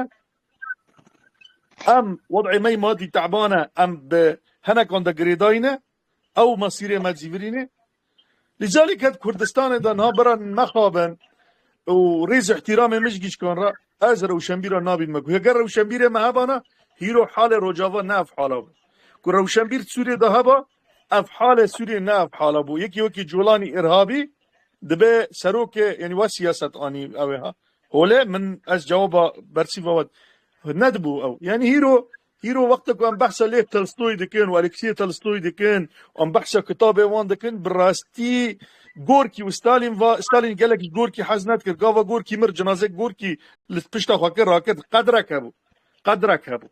S1: Em wed'ê me yê madî te'ban e, em bi hinekan de girêdayî ne, ew mesîrê me cîvirî ne. Lê calê ke di Kurdistanê de niha bira nexabin û rêz û îhtîramê min ji gişkan re, ez rewşenbîran nabînim me ku heger rewşenbîrê me hebana, hîro halê Rojava ne ev hala be. Ku rewşenbîr di Sûriyê de heba, Ev halê Sûriyê ne ev hala bû. Yekî wekî Colanî Îrhabî dibe serokê yanî we siyaset anî ew ê ha. Holê min ez cewaba bersîva we nedibû ew. Yanî hîro hîro wexta ku em behsa Lêv Tolstoyî dikin û Aleksî Tolstoyî dikin û em behsa kitabê wan dikin bi rastî Gorkî û Stalîn va Stalîn gelek ji Gorkî hez nedikir. Gava Gorkî mir cinazeyê Gorkî li pişta xwe kir rakir qedrek hebû. Qedrek hebû.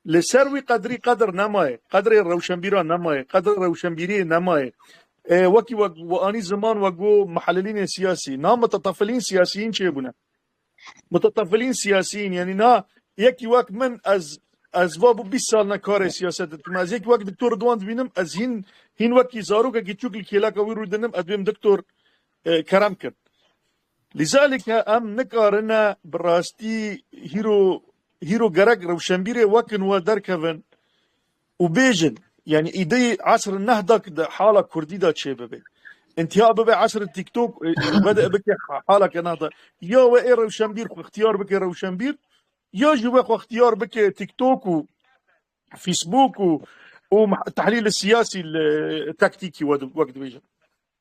S1: Li ser wî qedrî qedr nemaye, qedrê rewşenbîran nemaye, qedrê rewşenbîriyê nemaye. Wekî wek we anî ziman we got muhelilînê siyasî, na mutetefilîn siyasîyîn çêbûne. Mutetefilîn siyasîyîn yanî na yekî wek min ez ez va bû bîst sal ne karê siyasetê dikim. Ez yekî wek Diktor Ridwan dibînim ez hîn hîn wekî zarokekî çûk li kêleka wî rûdinim ez bêm Diktor Kerem kin. Lîzalike em nikarine bi rastî hîro hîro gerek rewşenbîrê wekin we derkevin û bêjin yanî îdeyê esr nehda ki di hala kurdî de çêbibe. Întiha bibe esr TikTok vede bike haleke nehda. Ya we ê rewşenbîr xwe xtiyar bike rewşenbîr ya jî we xwe xtiyar bike TikTok û Facebook û û tehlîlê siyasî li taktîkî wek dibêjin.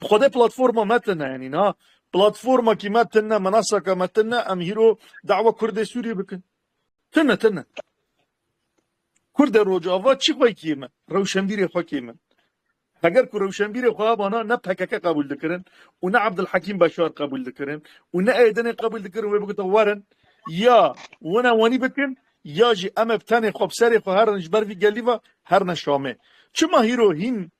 S1: Bi xwedê platforma me tune yanî niha platformakî me tune minasaka me tune em hîro dawa Kurdê Sûriyê bikin. Tune tune. Kurdê Rojava çi xwe kî min, rewşenbîrê xwe kî min. Heger ku rewşenbîrê xwe hebana ne pkk qebûl dikirin û ne Abdulhekîm Beşar qebûl dikirin û ne Êrdinê qebûl dikirin wê bigotin werin ya wina wanî bikin ya jî em ê bi tenê xwe bi serê xwe herin ji ber vî gelî ve herine Şamê. Çima hîro hîn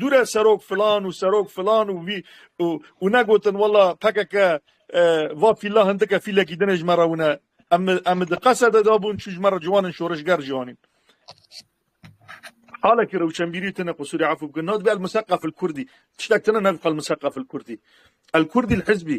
S1: Dûre serok filan û serok filan û vî û negotin wela pkk va fîla hindik e fîlekî din ê ji me re wina. Em em di qesede de bûn çû ji me re ciwan in şorişger jî anîn. Halekî rewşenbîrî tune qisûrê efû bikin. Nadibê el-Museqefil-Kurdî. Tiştek tune navê xwe el-Museqefil-Kurdî. El-Kurdîl-Hizbî.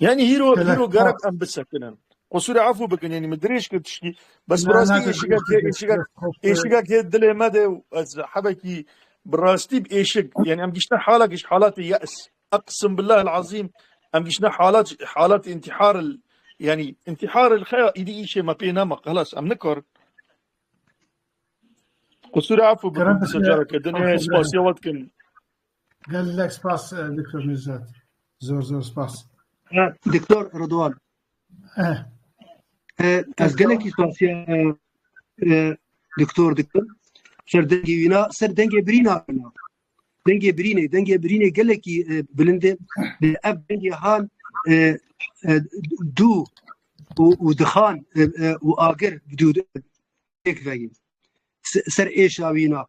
S1: Yani hîro hîro gerek em bisekinin. Qusûrê efû bikin yani min dirêj kir tiştî. Bes bi rastî êşikek hê êşikek êşikek hê dilê me de ez hebekî bi rastî bi êşik yani em giştin halek ji halatê yes. Eqsim billahi azîm em giştin halat halat intihar yani intihar xeya îdî îşê me pê nema xelas em nikarin. Qusûrê efû bikin secara kedin spasiya wet kin. Gelek spas Doktor Nevzat. Zor zor spas. Doktor Rıdwan. Eh. Ez gelekî xasiya doktor dikim. Ser dengê wîna, ser dengê birîna wîna. Dengê birînê, dengê birînê gelekî bilindê. Ev dengê han dû û dixan û agir dû pêk veyî. Ser êşa wîna.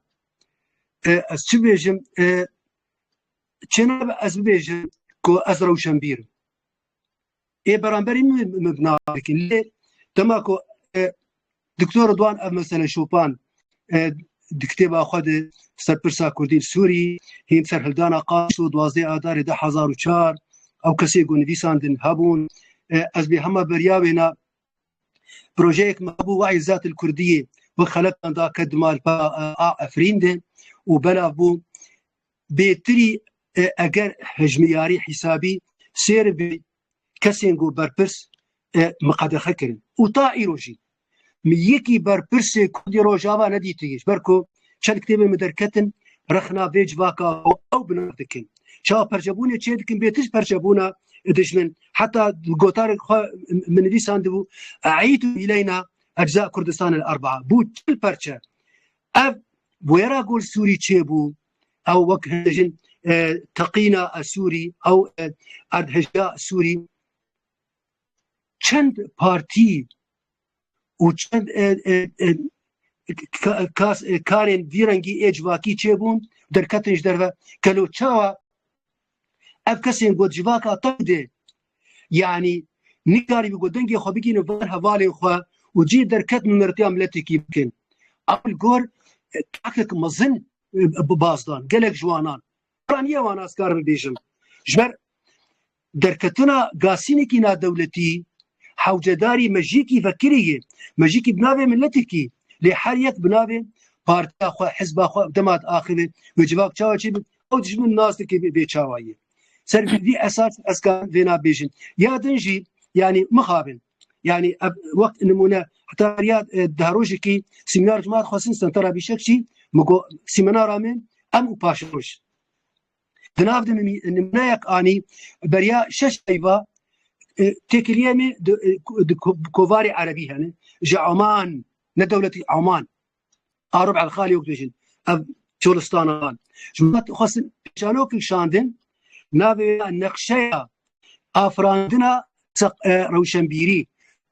S1: Ez çi bêjim çênabe ez bibêjim ku ez rewşenbîr im. Ê beramberî min binavekî lê dema ku Doktor Rıdwan ev mesele şopan di kitêba xwe de serpirsa Kurdîn Sûrî hîn serhildana qaş û duwazdê adarê de hezar û çar ew kesê ku nivîsandin hebûn ez bê hema berya wêna Projeyek me bû wayî zatil Kurdiyê bi xeletan da ke di malpa a Efrîn de û belav bû bêtirî eger hejmiyarî hîsabî sêr bî kesên ku berpirs miqedexe kirin û ta îro jî mi yekî berpirsê Kurdê Rojava nedîtiye ji ber ku Çend kitêbên min derketin rexna vê civaka û ew bi nav dikin. Çawa perçebûnê çê dikin bê tişt perçebûna dijmin heta gotarê xwe min nivîsandibû eîd û îleyna ecza Kurdistan el erbaa bû çil perçe. Ev wêra gol Sûrî çêbû ew wek hindijin e, teqîna e, Sûrî ew e, erdhejda Sûrî çend partî û çend karên vî rengî ê civakî çêbûn derketin ji derve kelo çawa ev kesên got civaka tam dê yanî nîkarî bi got dengê xwe bigîne var hevalê xwe û cî derket mimertiya miletekî bikin ewil gor takek mezin bi bazdan gelek ji wanan wan ye wan ez kar bibêjim ji ber Derketina gasînekî nadewletî hewcedarî mejîkî vekirî ye. Mejîkî bi navê miletekî lê her yek bi navê partiya xwe, hizba xwe dema diaxive wê civak çawa çê be ew dijmin nas dike vê vê çawayî. Ser vî vî esasî ez karim vêna bêjim. Ya din jî yanî mixabin yanî ev wek nimûne heta riya di rojekî sîmînar ji me hat xwestin Sentara Bîşekçî min got sîmînara me em û paşeroj Di nav de nimûneyek anî beriya şeş peyva têkiliyê me di kovarê erebî hene ji Oman ne dewletî Oman Arab Elxalî yok dibêjin ev Çolistana van ji wan dixwestin pêşanokek şandin navê neqşeya afirandina rewşenbîrî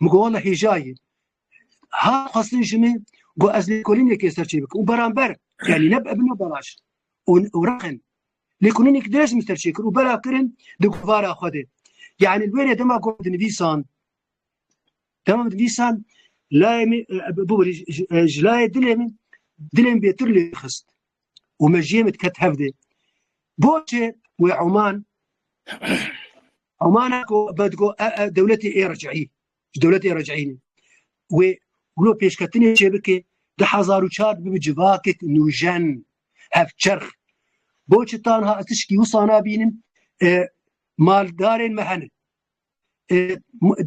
S1: Min got wala hêjayê ha xwestin ji min got ez lêkolînekê ser çê bikim û beramber yanî ne bibin belaş û rexin lêkolînek dirêj min ser çê kir û bela kirin di guvara xwe de yanî wêrê dema got dinivîsan dema dinivîsan layê min ji layê dilê min dilê min bêtir lê xist û mejiyê min diket hevdê. Boçê wê Oman Omana ku me digo e, e, dewletê ê recîî ji dewletê recîînê wê wilo pêşketinê çê bike di hezar û çar bibi civakek nûjen hevçerx boçê tanha tişkî wisa nabînim e, maldarên me henin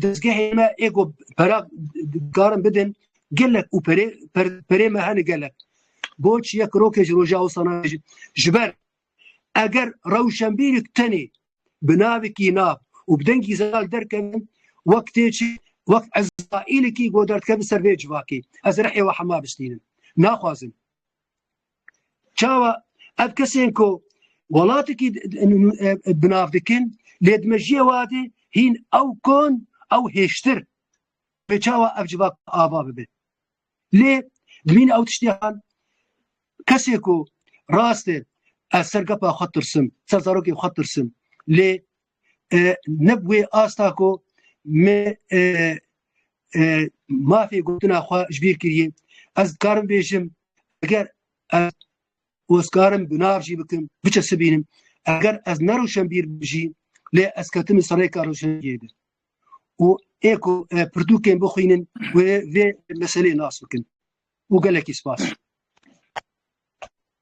S1: dezgehê me êgo pera dikarin bidin gelek û perê perê me hene gelek boç yek rokê ji roja osana ji ber eger rewşenbîrik tenê bi navekî nav û bi dengî zelal derkevin wek tê çi wek ezraîlekî godardkevin ser vê civakê ez rehê we hema bistînin naxwazin Çawa ev kesên ku welatekî bi nav dikin lê di mejiyê wadê hîn ew kon ew hêştir pê çawa ev civak ava bibe. Lê dimîn ew tiştihan kesê ku rastê ez ser gepa xwe tirsim, ser zarokê xwe tirsim lê ne bi wê asta ku me mafê gotina xwe ji bîr kiriye ez dikarim bêjim eger ez ozkarim bi nav jî bikim biçe sibînim eger ez ne rûşenbîr bijî lê ez ketim li serêka rûşenbîrê de û ê ku pirtûkên bixwînin wê vê meselê nas bikin û gelekî spas.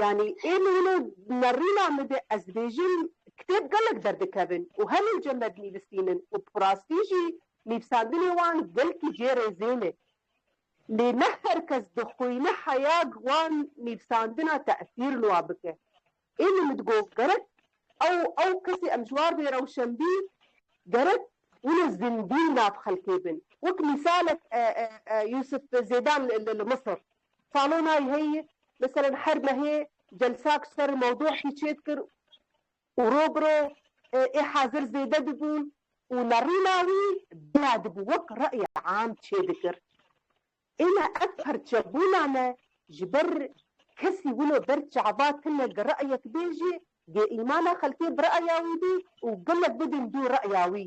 S1: Yanî ê li wilo nerîna min de ez dibêjim kitêb gelek derdikevin û hemû cemed nivîsîn in û bi rastî jî nivîsandinê wan gelkî cê rêzên e. Lê ne her kes dixwîne heya wan nivîsandina tesîr li wan bike. Ê min min digot gerek ew ew kesê em ji war bê rewşenbî gerek wilo zindî li nav xelkê bin. Wek mîsalek Yûsif Zêdan li Misir. Salonay heyî li seren her mehê celsak ji ser mewdûekî çêdikir û ro bi ro ê hazir zêde dibûn û nerîna wî bila dibû wek rey am çêdikir. Îna ev perçebûna me ji ber kesî wilo ber çava tune gi reyek bê jî gê îmana xelkê bi reya wî bî û gelek bidin dû reya wî.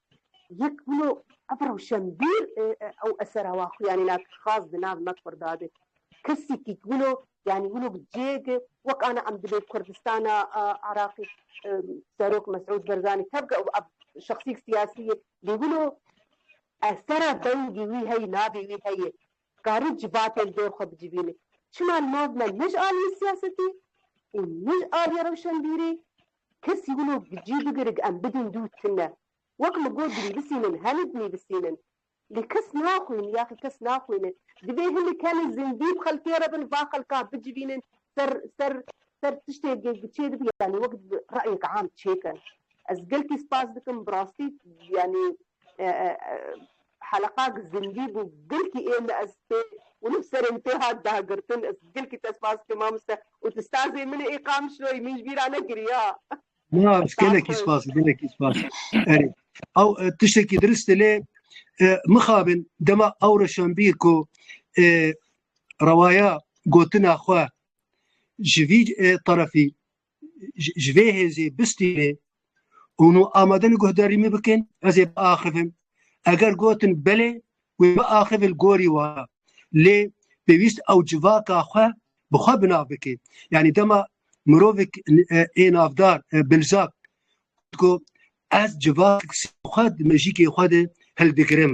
S1: Yek wilo ev rewşenbîr ew esera wa xwe yanî na xas di nav me Kurda de kesekî ku wilo yanî wilo bi cêge wek ana em dibê Kurdistana Iraqê Serok Mesûd Berzanî tevge û ev şexsîk siyasî ye lê wilo esera dengê wî heye navê wî heye Dikarî civatê li dor xwe bicivînî. Çima li nav me ne ji aliyê siyasetî û ne ji aliyê rewşenbîrî kesî wilo gicî bigirig em bidin dû tune. Wek min got dinîvisînin hemî dinîvisînin. Lê kes naxwîn yaxî kes naxwîne. Divê hinek hene zindî bi xelkê re bin va xelka bicivînin ser ser ser tiştê çêdibin yanî wek reyek am çêkin. Ez gelkî spas dikim bi rastî yanî Heleqak zindî bû gilkî ê min ez pê wilo serê min tê hat dagirtin ez gilkî te spas dikim mamoste û tu sazê min î Qamişloyî min ji bîra nekirî ya. Na ez gelekî spas gelekî spas erê ew tiştekî dirist e lê mixabin dema ew reşanbîr ku rewaya gotina xwe ji vî tarafî ji vê hêzê bistînê hûn û amadin guhdarî min bikin ez ê biaxivim eger gotin belê wê biaxivil gorî wa lê pêwîst ew civaka xwe bi xwe binav bike yanî dema mirovek ê navdar bilzak ku ez civak xwe mejîkê xwe de hildigirim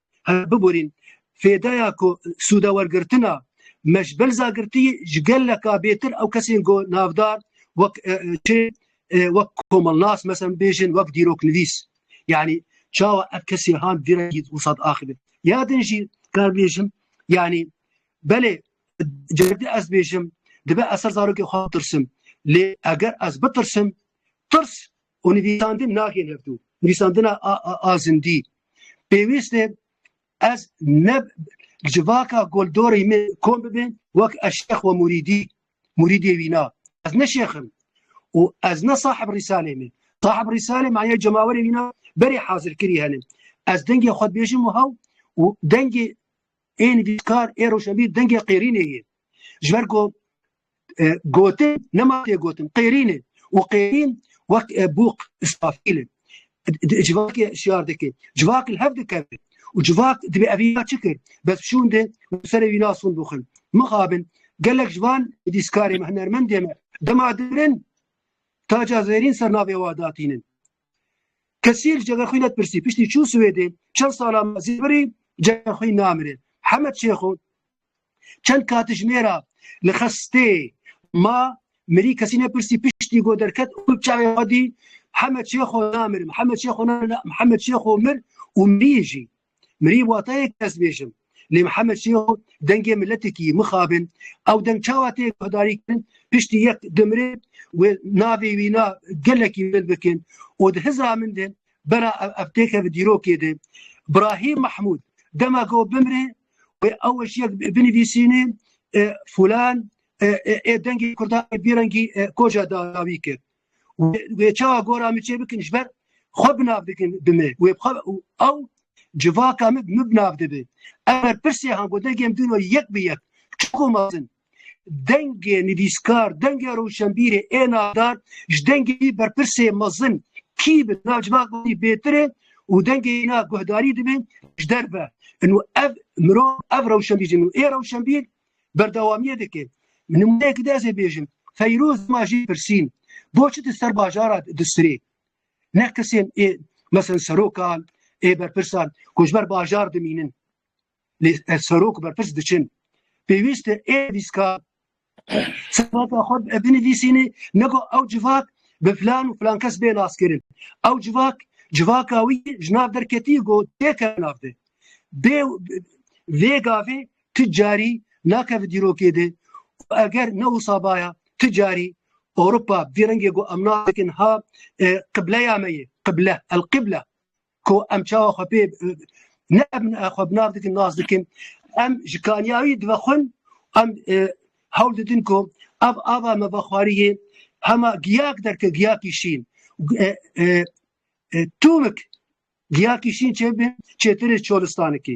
S1: بibûrîn fêdeya ku sûdewergirtina me ji belza girtî ji geleka bêtir ew kesên ku navdar wek çi wek komelnas mesem bêjin wek dîroknivîs yanî çawa ev kesê han vîra wsat axivin ya din jî kar bêjim yanî belê cerdî ez bêjim dibe ez ser zarokê xwe tirsim lê eger ez bitirsim tirs û nivîsandin naxin hev dû nivîsandina a zindî pêwîst e ez ne civaka goldorê min kom bibin wek ez şex we murîdî murîdê wîna ez ne şexim û ez ne sahib rîsalê min sahib rîsalê maya cemawerê wîna berê hazirkirî henin ez dengê xwe dibêjim û hew û dengê Ê nivîskar, ê rojnivîs dengê Qêrînê ye. Ji ber ku e, gotin nema tê gotin Qêrîn e û Qêrîn wek e, bûq îsrafîl e. Civakê şiyar dike, civak li hev dikeve û civak divê ev îna çi kir? Bes şûn de serê wîna sûn bixin. Mixabin, gelek ji van nivîskarê me, hunermendê me dema dirin taca zêrîn ser navê wa datînin. Kesî li cega xwî netpirsî piştî çû Swêdê çend sala me zêbirî cega xwî namirê. Hemed Şêxo çend katijmêra li xestê ma mirî kesî nepirsî piştî got derket û bi çavê xwedî Hemed Şêxo namirim, Hemed Şêxo namirim, Hemed Şêxo mir û mirî jî. Mirî wata yek ez bêjim. Lê Mihemed Şêxo dengê miletê kî mixabin ew deng çawa tê guhdarî kirin piştî yek dimrê wê navê wî na gelekî bilind bikin û di hizra min de bera ev têkeve dîrokê de Brahîm Mahmûd dema ku bimrê wê ew ji yek binivîsînê fulan ê dengê kurdan bêrengî koca dawî kir. Wê çawa gora min çê bikin ji ber xwe binav dikin bi me wê xwe û ew civaka min min binav dibi. Eger pirsê han ku dengê min dino yek bi yek çiko mazin dengê nivîskar dengê rewşenbîrê ê navdar ji dengê wî berpirsê mezin kî bi nav civak wî bêtirê û dengê na guhdarî dibin ji derve. Inu ev mirov ev rewşenbîr ê rewşenbîr Berdewamiye dike. Nimûneyekî de ez ê bêjim. Feyroz dima jê pirsîn, bo çi di ser bajara di sirê? Ne kesên ê mesen serokan, ê berpirsan ku ji ber bajar dimînin. Lê ez serok û berpirs diçin. Pêwîst e ê vîska serveta xwe binivîsînê ne ku ew civak bi filan û filan kes bê naskirin. Ew civak civaka wî ji nav derketî ku têke nav de. Bê vê gavê ti carî nake vi dîrokê de û eger ne wisa baya ti carî Ewropa bi vî rengê ku em nadikin ha qibleya me yê qible el qibla ku em çawa xwe pê ne xwe bi nav dikin nas dikin em ji kaniyawî dive xwin em hewl didin ku ev ava me vexwariyê hema giyak derke giyakî şîn tûmik giyakî şîn çêbin çêtirê çolistanikî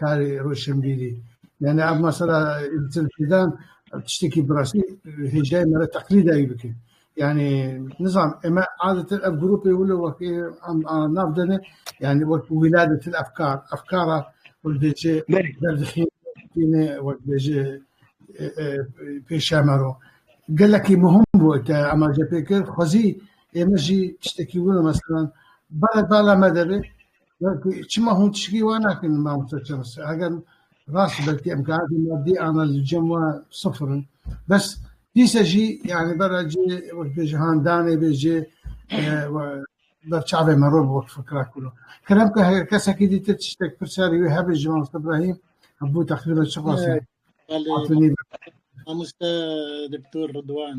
S1: Karê roşenbîrî yani ev mesela Tilkîdan tiştekî bi rastî hêjayê me re teqlîd dayî bike. Yani nizam eme adetin ev grûpê wilo wek nav dene yani wek wîladetin efkar efkara wek dêçe derdixîne wek dêçe pêşemero gelekî muhim bû te ema cepê kir xwezî ême jî tiştekî wilo mesela bala bala me de be Belkî çima hûn tişkî wan nakin mamoste Çemes eger rast belkî imkanatê madî ana li cem wan sifir in bes dîsa jî yanî bera cê wek bêje handanê bê cê ber çavê me rû wek fikra kûno. Kerem ke her kesekî dî te tiştek pirsarî wê hebê ji mamoste Ibrahîm hebû teqrîben çi qasî hatûnî Mamoste Doktor Ridwan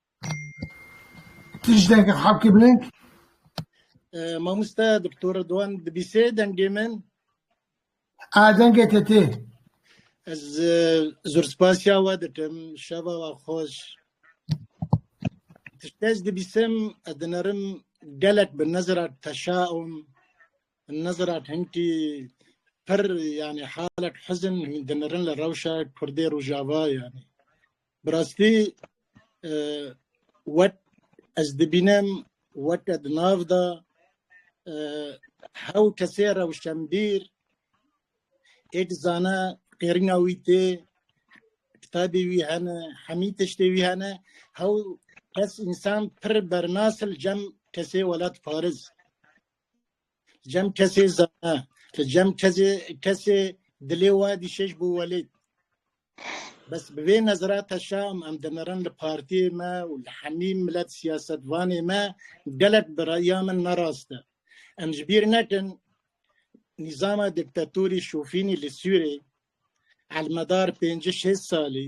S1: Tiştekî haqî biling. Mamoste doktor Doan dibîsê dengê min. A dengê te tê. Ez e, zor spasiya we dikim. Şeva we xweş. Tiştê ez dibîsim, ez dinerim gelek bi nezira teşa ûm. Nezira hinkî pir yani halek hizin dinerin li rewşa Kurdê Rojava yani. Bi rastî wek ez dibînim weke di nav de hew kesê rewşenbîr ê dizane qêrîna wî tê, kitabê wî hene, hemî tiştê wî hene, hew kes însan pir bernas il cem kesê welat pariz. Li cem kesê zana, li cem kesê kesê dilê we dişeş bû welêt. Bes bi vê nezirata şam em dimirin li partiyê me û li hemî milet siyasetvanê me gelek bi reya min ne rast e. Em ji bîr nekin nîzama diktatorî şofînî li Sûrê elmedar pêncî şêst salî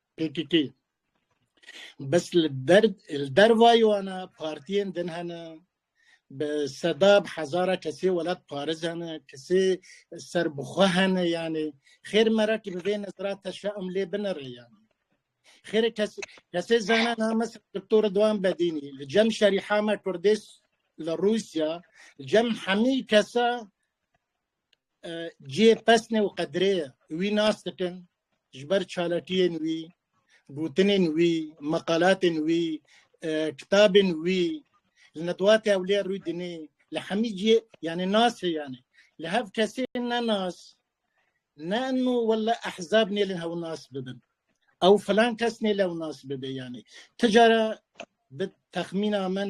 S1: PKK bes li der li dervayê wan e partiyên din hene bi seda bi hezara kesê welat pariz hene kesê ser bi xwe hene yanê xêr merakî bi vê nezra te şe'm lê binere yanê xêr kes kesê zana na mes doktor Ridwan Bedînî li cem şerîhame kurdês li Rûsya cem hemî kesa cihê pesnê û qedrê wî nas dikin ji ber çalakiyên wî, gotinên wî, meqalatên wî, e, kitabên wî, li nedwat ewlê rû dinê, li hemî cihê yani nas heyane. Li hev kesê ne nas, ne nu wella ehzab nêlin hew nas bibin. Ew filan kes nêlew nas bibe yani. Ticara bi texmîna min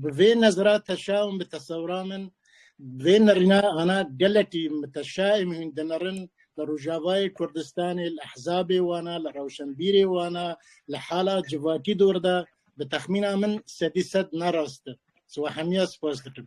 S1: Bi vê nezra teşa û bi tesewra min vê nerîna ana gelekî teşa ê min hûn dinerin li Rojavayê Kurdistanê li ehzabê wan a, li rewşenbîrê wan a, li hala civakî dor de bi texmîna min sedî sed ne rast e. Siwe hemiya spas dikim.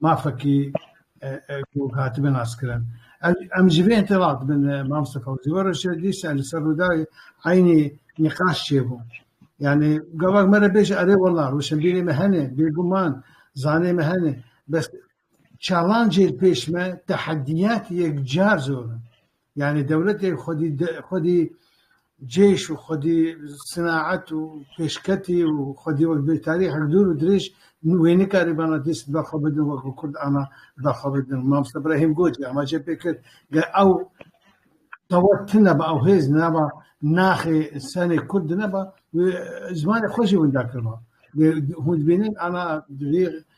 S1: mafekî ku hatibin naskirin. Em ji vê tê radibin mamoste Fewzî. Were şê dîsa li ser Rûdawê eynî nîqaş çêbû. Yani gavak me re bêje erê wela rûşenbîrê me hene bêguman zanê me hene bes çalancê pêş me tehediyat yekcar zor in. Yanî dewletê xwedî xwedî cêş û xwedî sinaet û pêşketî û xwedî wek bi tarîxek dûr û dirêj wê nikarî bana dîst ber xwe bidin wek ku kurd ana ber xwe bidin. Mamosta Brahîm Goç jî amacê pê kir ge ew qewet tine ba ew hêz neba naxê senê kurd dineba wê zimanê xwe jî winda kiriba. Hûn dibînin ana rî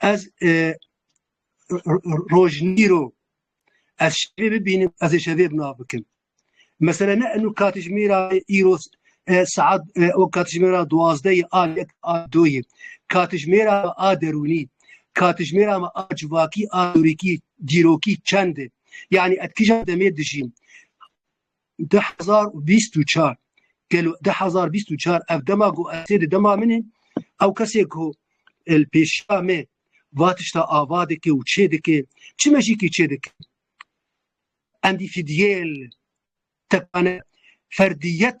S1: Ez rojnîro ez şevê bibînim ez ê şevê bina bikim. Mesela ne enu katijmêra îro saat o katijmêra duwazdeyê a yek a doyê katijmêra a derûnî katijmêra me a civakî a dorîkî dîrokî çend e. Yani et kija demê dijîm. du hezar û bîst û çar gelo du hezar bîst û çar ev dema ku ez di dema min in ew kesê ku li pêşiya me va tişta ava dike û çê dike çi mejîkî çê dike endî fîdiyeyê li tepane ferdiyet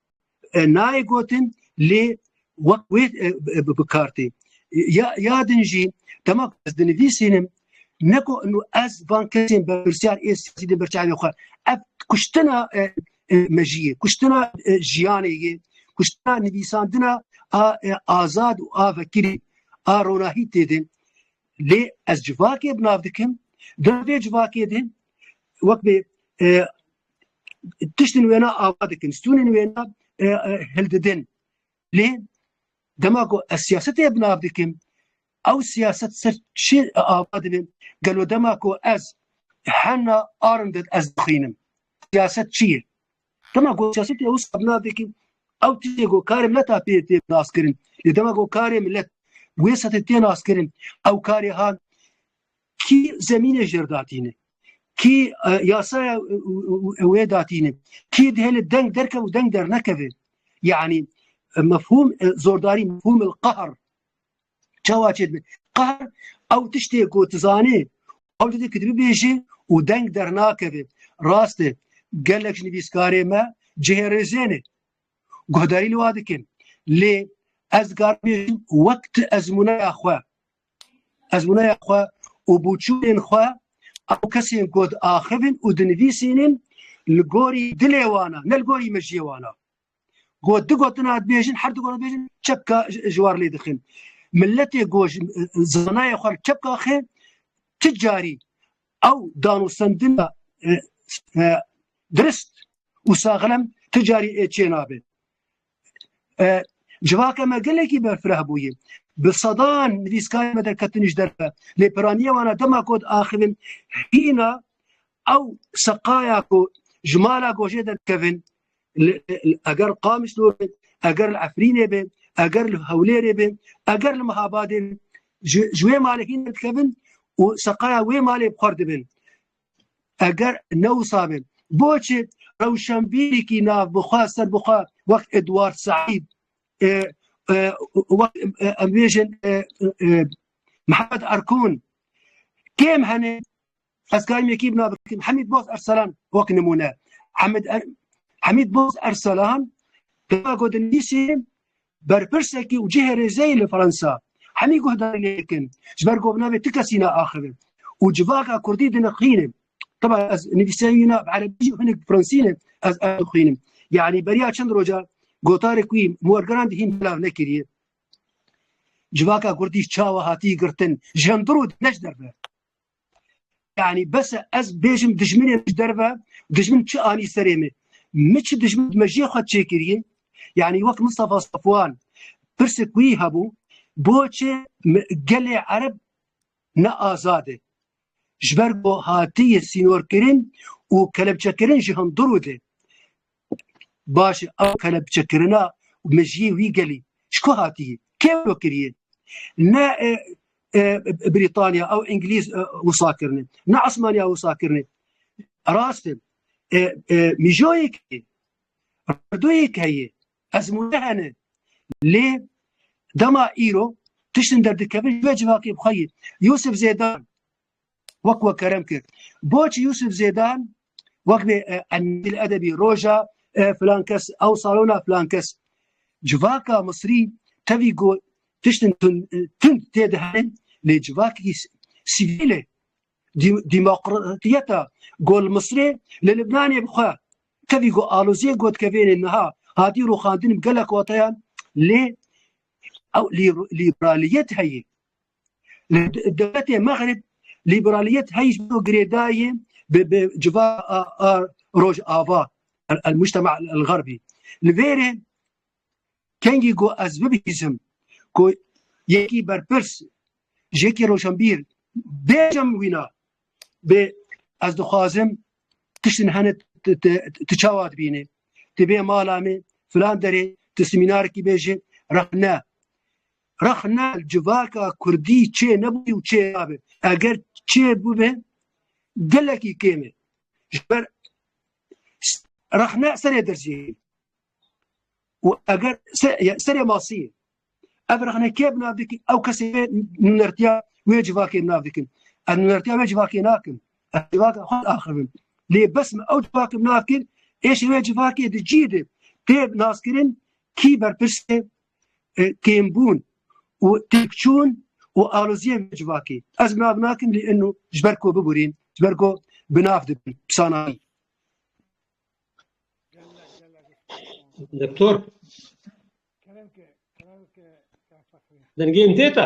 S1: nayê gotin lê wek wê bikartê ya din jî dema ez dinivîsînim neko ez van kesên berpirsiyar ê siyasî din berçavê xwe ev kuştina mejiyê kuştina jiyanê yê kuştina nivîsandina a azad û a vekirî a ronahî tê din lê ez civakê bi nav dikim di vê civakê din wek bê tiştên wêna ava dikin stûnên wêna e, e, hildidin lê dema ku ez siyasetê binav dikim ew siyaset ser çi ava dibin gelo dema ku ez hena arinded ez dixînim siyaset çi ye dema ku siyasetê ew binav dikim ew tiştê ku karê mileta pê tê naskirin lê dema ku karê millet wê setê tê naskirin ew karê han Kî zemînê jêr datîne? Kî yasaya wê datîne? Kî dihê li deng derkev û deng dernekeve? Yanî mefhûm zordarî mefhûm il qahr çawa çê dibe? Qahr ew tiştê ku tu zanê ew didê ku tu bibêjî û deng dernakeve. Rast e gelek ji nivîskarê me cihê rêzê ne guhdarî li wa dikin lê ez dikarim bêjim wek tu ezmûneya xwe Ez wînaya xwe û bûçûnên xwe ew kesên ku diaxivin û dinivîsînin li gorî dilê wan e ne li gorî mejiyê wan e. Ku di gotina dibêjin her du gotina dibêjin çepka ji war lê dixin. Milletê ku zanayê xwe li çepka xê ti carî ew danûstendina dirist û saxlem ti carî ê çê nabe. Civaka me gelekî berfireh bûye. Bi sedan nivîskarên me derketin ji derve. Lê piraniya wan a dema ku diaxivin hîna ew seqaya ku ji mala gojê derkevin eger li Qamîslor be, eger li Efrînê be, eger li Hewlêrê be, eger li Mihabadê be ji wê malê hîn derdikevin û seqaya wê malê bi xwe re dibin. eger ne wisa be boçê rewşenbîrîkî nav bixwe ser bixwe wek Edward Saîd wek em bêjin Mihemed Erkûn kêm hene ez karîm yekî bina bikim Hemîd Boz Erselan wek nimûne Hemîd Boz Erselan gotin nîsî Berpirsekî û cihê rêzeyê li Fransa hemî guhdarî lê dikin. Ji ber ku bi navê ti kesî ne axivin û civaka kurdî dinixînin. Teba ez nivîseyî ne bi erebî jî hinek bi fransî ne ez ew dixwînim. Yanî beriya çend roja gotarê ku yî wergeran dihîn belav nekiriye. Civaka kurdî çawa hatî girtin ji hemdirû di neç derve. Yani bes e ez bêjim dijminê ji derve dijmin çi anî serê min. Min çi dijmin me jê xwe çêkiriye yani wek Mustafa Safwan pirsê ku yî hebû boçê gelê ereb ne azad e. Ji ber ku hatiye sînorkirin û kelepçekirin ji hundirû de. Baş e ew kelepçekirina û mejiyê wî gelî ji ku hatiye? Kê wilo kiriye? Ne Brîtanya ew Îngilîz wisa kirine, ne Esmaniya wisa kirine. Rast e mijoyek heye, rewdoyek heye, ezmûne hene. Lê dema îro tiştin derdikevin ji vê civakê bi xwe yê. Yûsif Zêdan wek we kerem kir. Boçî Yusuf Zêdan wek vê e, emîl edebî roja e, filan kes ew salona filan kes. Civaka Misrî tevî got tiştin tund tê diherin lê civakî sivîlê demokratiyeta gol Misrê li Libnanê bixwe tevî got alozê got ke vênê niha hatî rûxandin gelek watayan lê ew lîbraliyet heye Li dewletê Mexrib lîberaliyet heyîs bû girêdayê bi bi civa a Rojava el mujtema el xerbî. Li vêrê kengî ku ez bibihîzim ku yekî berpirs jekî roşenbîr bêjim wîna bê ez dixwazim tiştin hene tu çawa dibînê tu bê mala me filan derê tu simînarekî bêjê rexne Rexne civaka Kurdî çê nebû û çê nabe. Eger çê bibe gelekî kêm e. Ji ber rexne serê derziyê ye. û eger serê masî ye. Ev rexne kê bi nav dikî ew kesê vê nûnertiya wê civakê bi nav dikin. Ez nûnertiya wê civakê nakim. Ez civaka xwe axivim. Lê bes min ew civakê bi nav kir êşî wê civakê di cî de tê naskirin kî berpirs e tênbûn û têkçûn û aloziyê vê civakî ez nav nakim lê inu ji ber ku biborîn ji ber ku bi nav dibin pisanayî Doktor Dengê min têta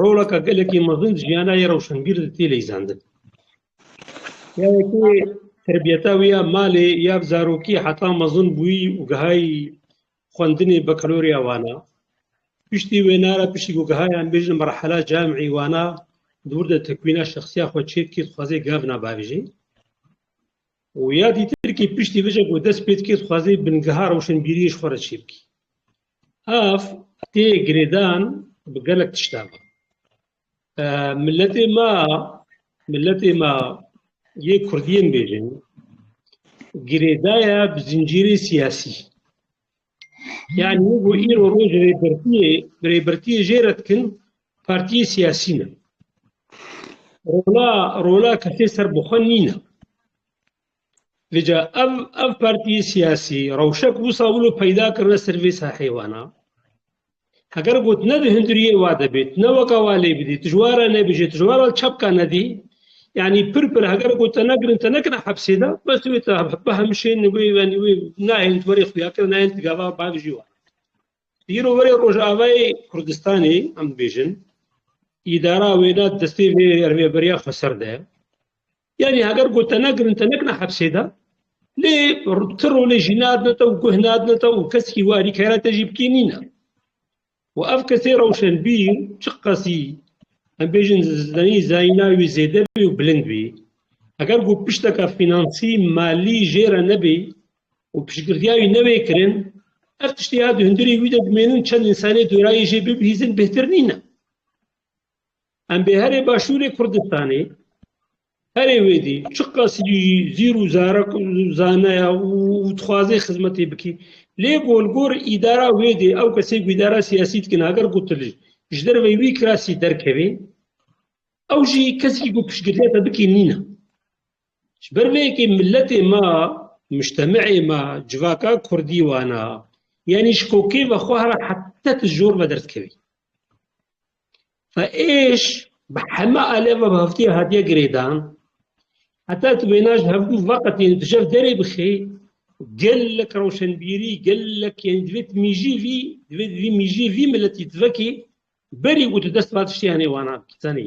S1: Roleke gelekî mezin di jiyana yê rewşenbîr de tê leyzandin. Ya yekê terbiyeta wî ya malê ya bi zarokî heta mezin bûyî û gihayî xwendinê Bakalorya Wana. Piştî wêne re piştî ku gihayî em bêjin merhela camî Wana di wir de tekwîna şexsiya xwe çê dikê dixwaze gavna bavêje. Û ya dîtir kî piştî vê jî ku dest pê dikê dixwaze bingeha rewşenbîriyê ji xwe re çê bikê. Ev tê girêdan bi gelek tiştan. Milletê ma, milletê ma yê Kurdiyên bêjin, girêdaya bi zincîrê siyasî. Yani bu îro roj rêbertiyê, rêbertiyê jê re dikin partiyê siyasî ne. Rola, rola kesê serbixwe nîne. Lija ev ev partiyê siyasî rewşe ku wisa wilo peyda kirine ser vê saheyê wana. Heger got ne di hundiriyê wa de bê, tu ne weka wa lê bidî, tu ji wa re nebêje, tu ji wa re çapka nedî, yanî pir pir heger got te negirin te nekine hepsê de, bes tu wê te bihemşênî wê yanî wê nayên tu werê xuyakir nayên tu gava bavijî wan. Îro werê Rojavayê Kurdistanê em dibêjin îdara wêna destê vê rêveberiya xweser de. Yanî heger got te negirin te nekine hepsê de lê ti rolê jî nadine te û guh nadine te û kesekî wê alîkera te jî bikî nîne. Û ev kesê rewşenbîr çi qasî em bêjin zenî zayîna wî zêde bî û bilind bî. Heger got pişteke fînansî, malî jê re nebî û piştgirtiya wî newê kirin ev tiştê ya di hundirê wî de dimênin çend însanê dorayê jê bibihîzin bêhtir nîne. Em bi herê başûrê Kurdistanê herê wê dî çiqas jî zîr û zarek zanaya û dixwazê xizmetê bikî lê golgor îdara wê dê ew kesê ku îdara siyasî dikin ager gotil ji derve wî kirasî derkevê ew jî kesekî ku piştgiriya te bikî nîne. Ji ber vê yekê miletê ma muştemeê ma civaka kurdî wana yanî ji kokê ve xwe hera hete ti jor ve derdikevî. Êş bi heme alê ve bi heftiyê hatiye girêdan. Heta tu wêna ji hevgû veqetîn û tu jev derê bixî, gelek rewşenbîrî, gelek yên divê tu mîjî vî, divê vî mîjî vî miletî tu vekî berî û tu dest va tiştê henê wana bikî. Zanî?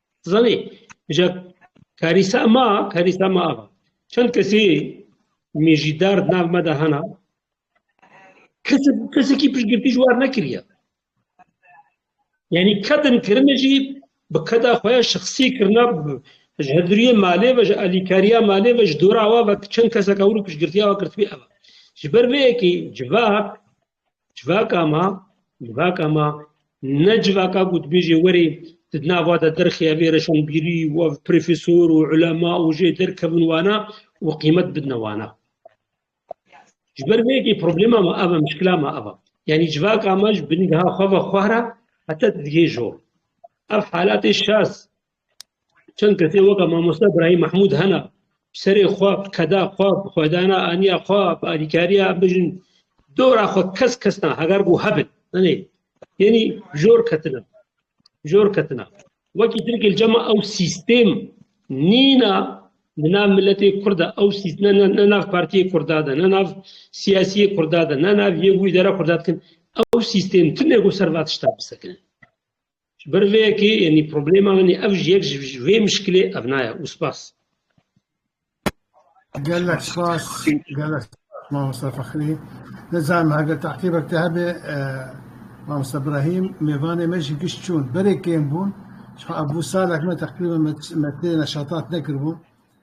S1: Zanî ja karîsa ma karîsa ma ava. Çend kesî mêjî derd nav me de hena kesek kesekî piştgirtî ji war nekiriye. Yani kadın kirine jî bi keda xwe ya şexsî kirina ji heduriyê malê ve ji alîkariya malê ve ji dora wa ve çend kesek ewro piştgirtiya wa kirtibî ev. Ji ber vê yekî civak Civaka ma, civaka ma ne civaka ku dibêjê werê tu di nava de derxê evê reşanbîrî û ev profesor û ulema û jê derkevin wana û qîmet bidine wana. Ji ber vê yekê problema ma ev e, mişkila ma ev e. Yanî civaka ma ji bingeha xwe ve xwe re heta digihê jor. Ev halatê şaz Çend kesê weka mamoste Brahîm Mahmûd hena serê xwe keda xwe xwedana aniya xwe alîkariya bijin dora xwe kes kesna heger bû hebin anê yenî jor ketina jor ketina wekî tirkil cema ew sîstêm nîna li nav miletê kurda ew sîstne ne nav partiyê kurda de ne nav siyasiyê kurda de ne nav yê wî dera kurda dikin ew sîstêm timê ku ser va tişta bisekinin Ji ber vê yekê yanî problema min ê ev ji yek ji vê mişkilê ev naye û spas. Gelek spas gelek spas mamosta Fexrî. Nizanim heger teqîbek te hebe mamosta Brahîm mêvanê me jî giş çûn. Berê kêm bûn. Ji xwe ev bû salek me teqrîben me tê neşatat nekiribûn.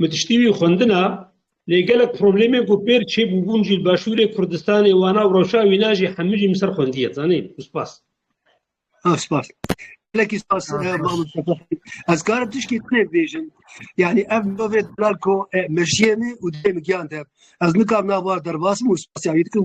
S1: Min tiştî wî xwendina lê gelek problemên ku pêr çêbûbûn jî li Başûrê Kurdistanê wana û rewşa wîna jî hemû jî min ser xwendiye zanîn û spas. Spas. Gelekî spas ez karim tişkî tê bêjin yanî ev bavê delal ku meşiyê min û dê min giyan te ez nikar nava derbas min û spasya wî dikim.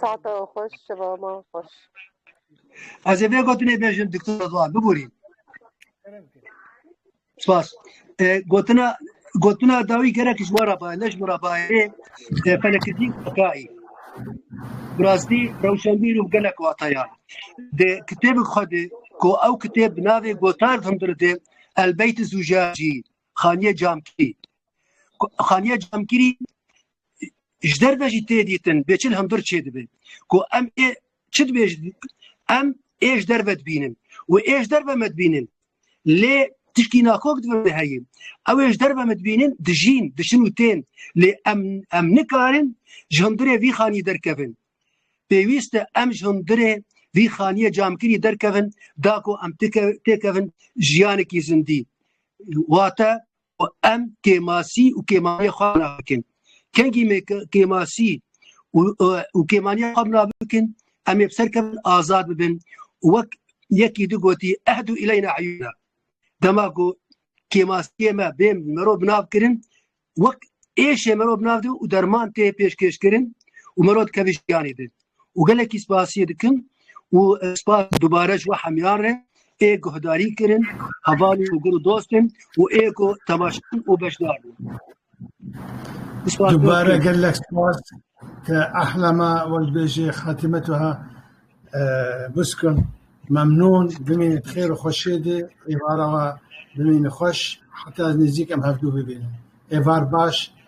S1: Saate xweş, şevama xweş. Ez ê vê gotinê bêjim Diktor Rıdvan, bibûrîn. Spas. E, gotina gotina dawî gerek ji wara bayê, ne ji wara bayê e, fenekirî kayî. Bi rastî rewşenbîr û gelek wataya. Di kitêbek xwe de ku ew kitêb bi navê Gotar hundir de Elbeyt Zûjajî, Xaniye Camkirî. Xaniye Camkirî ji derve jî tê dîtin bêçil hundir çêdibe ku em ê çi dibêj em ê ji derve dibînin û ê ji derve me dibînin lê tişkî nakok divê heyî ew ê ji derve me dibînin dijîn diçin û tên lê em em nikarin ji hundirê vî xanî derkevin pêwîst e em ji hundirê vî xaniyê camkirî derkevin da ku em têkevin jiyanekî zindî wate û em kêmasî û kêmaniya xwe bina bikin. Kengî me kêmasî û kêmaniya xwe bina bikin, em ê bi ser kevin azad bibin û wek yekî di gotî ehdu ileyna eyûna. Dema ku kêmasiyê me bên mirov binav kirin, wek êşê mirov binav dibe û derman tê pêşkêşkirin û mirov dikeve jiyanê din. û gelekî spasiyê dikim û spas dubare ji we hemyar re ê guhdarî kirin hevalê û gur û dostên û ê ku tevaşan û beşdar bûn. Dubare gelek spas ke ehla me wek dibêjê Xatîme Tuha Bûskim memnûn bimîne bi xêr û xweşiyê de êvara we bimîne xweş heta ez nêzîk em hevdu bibînin êvar baş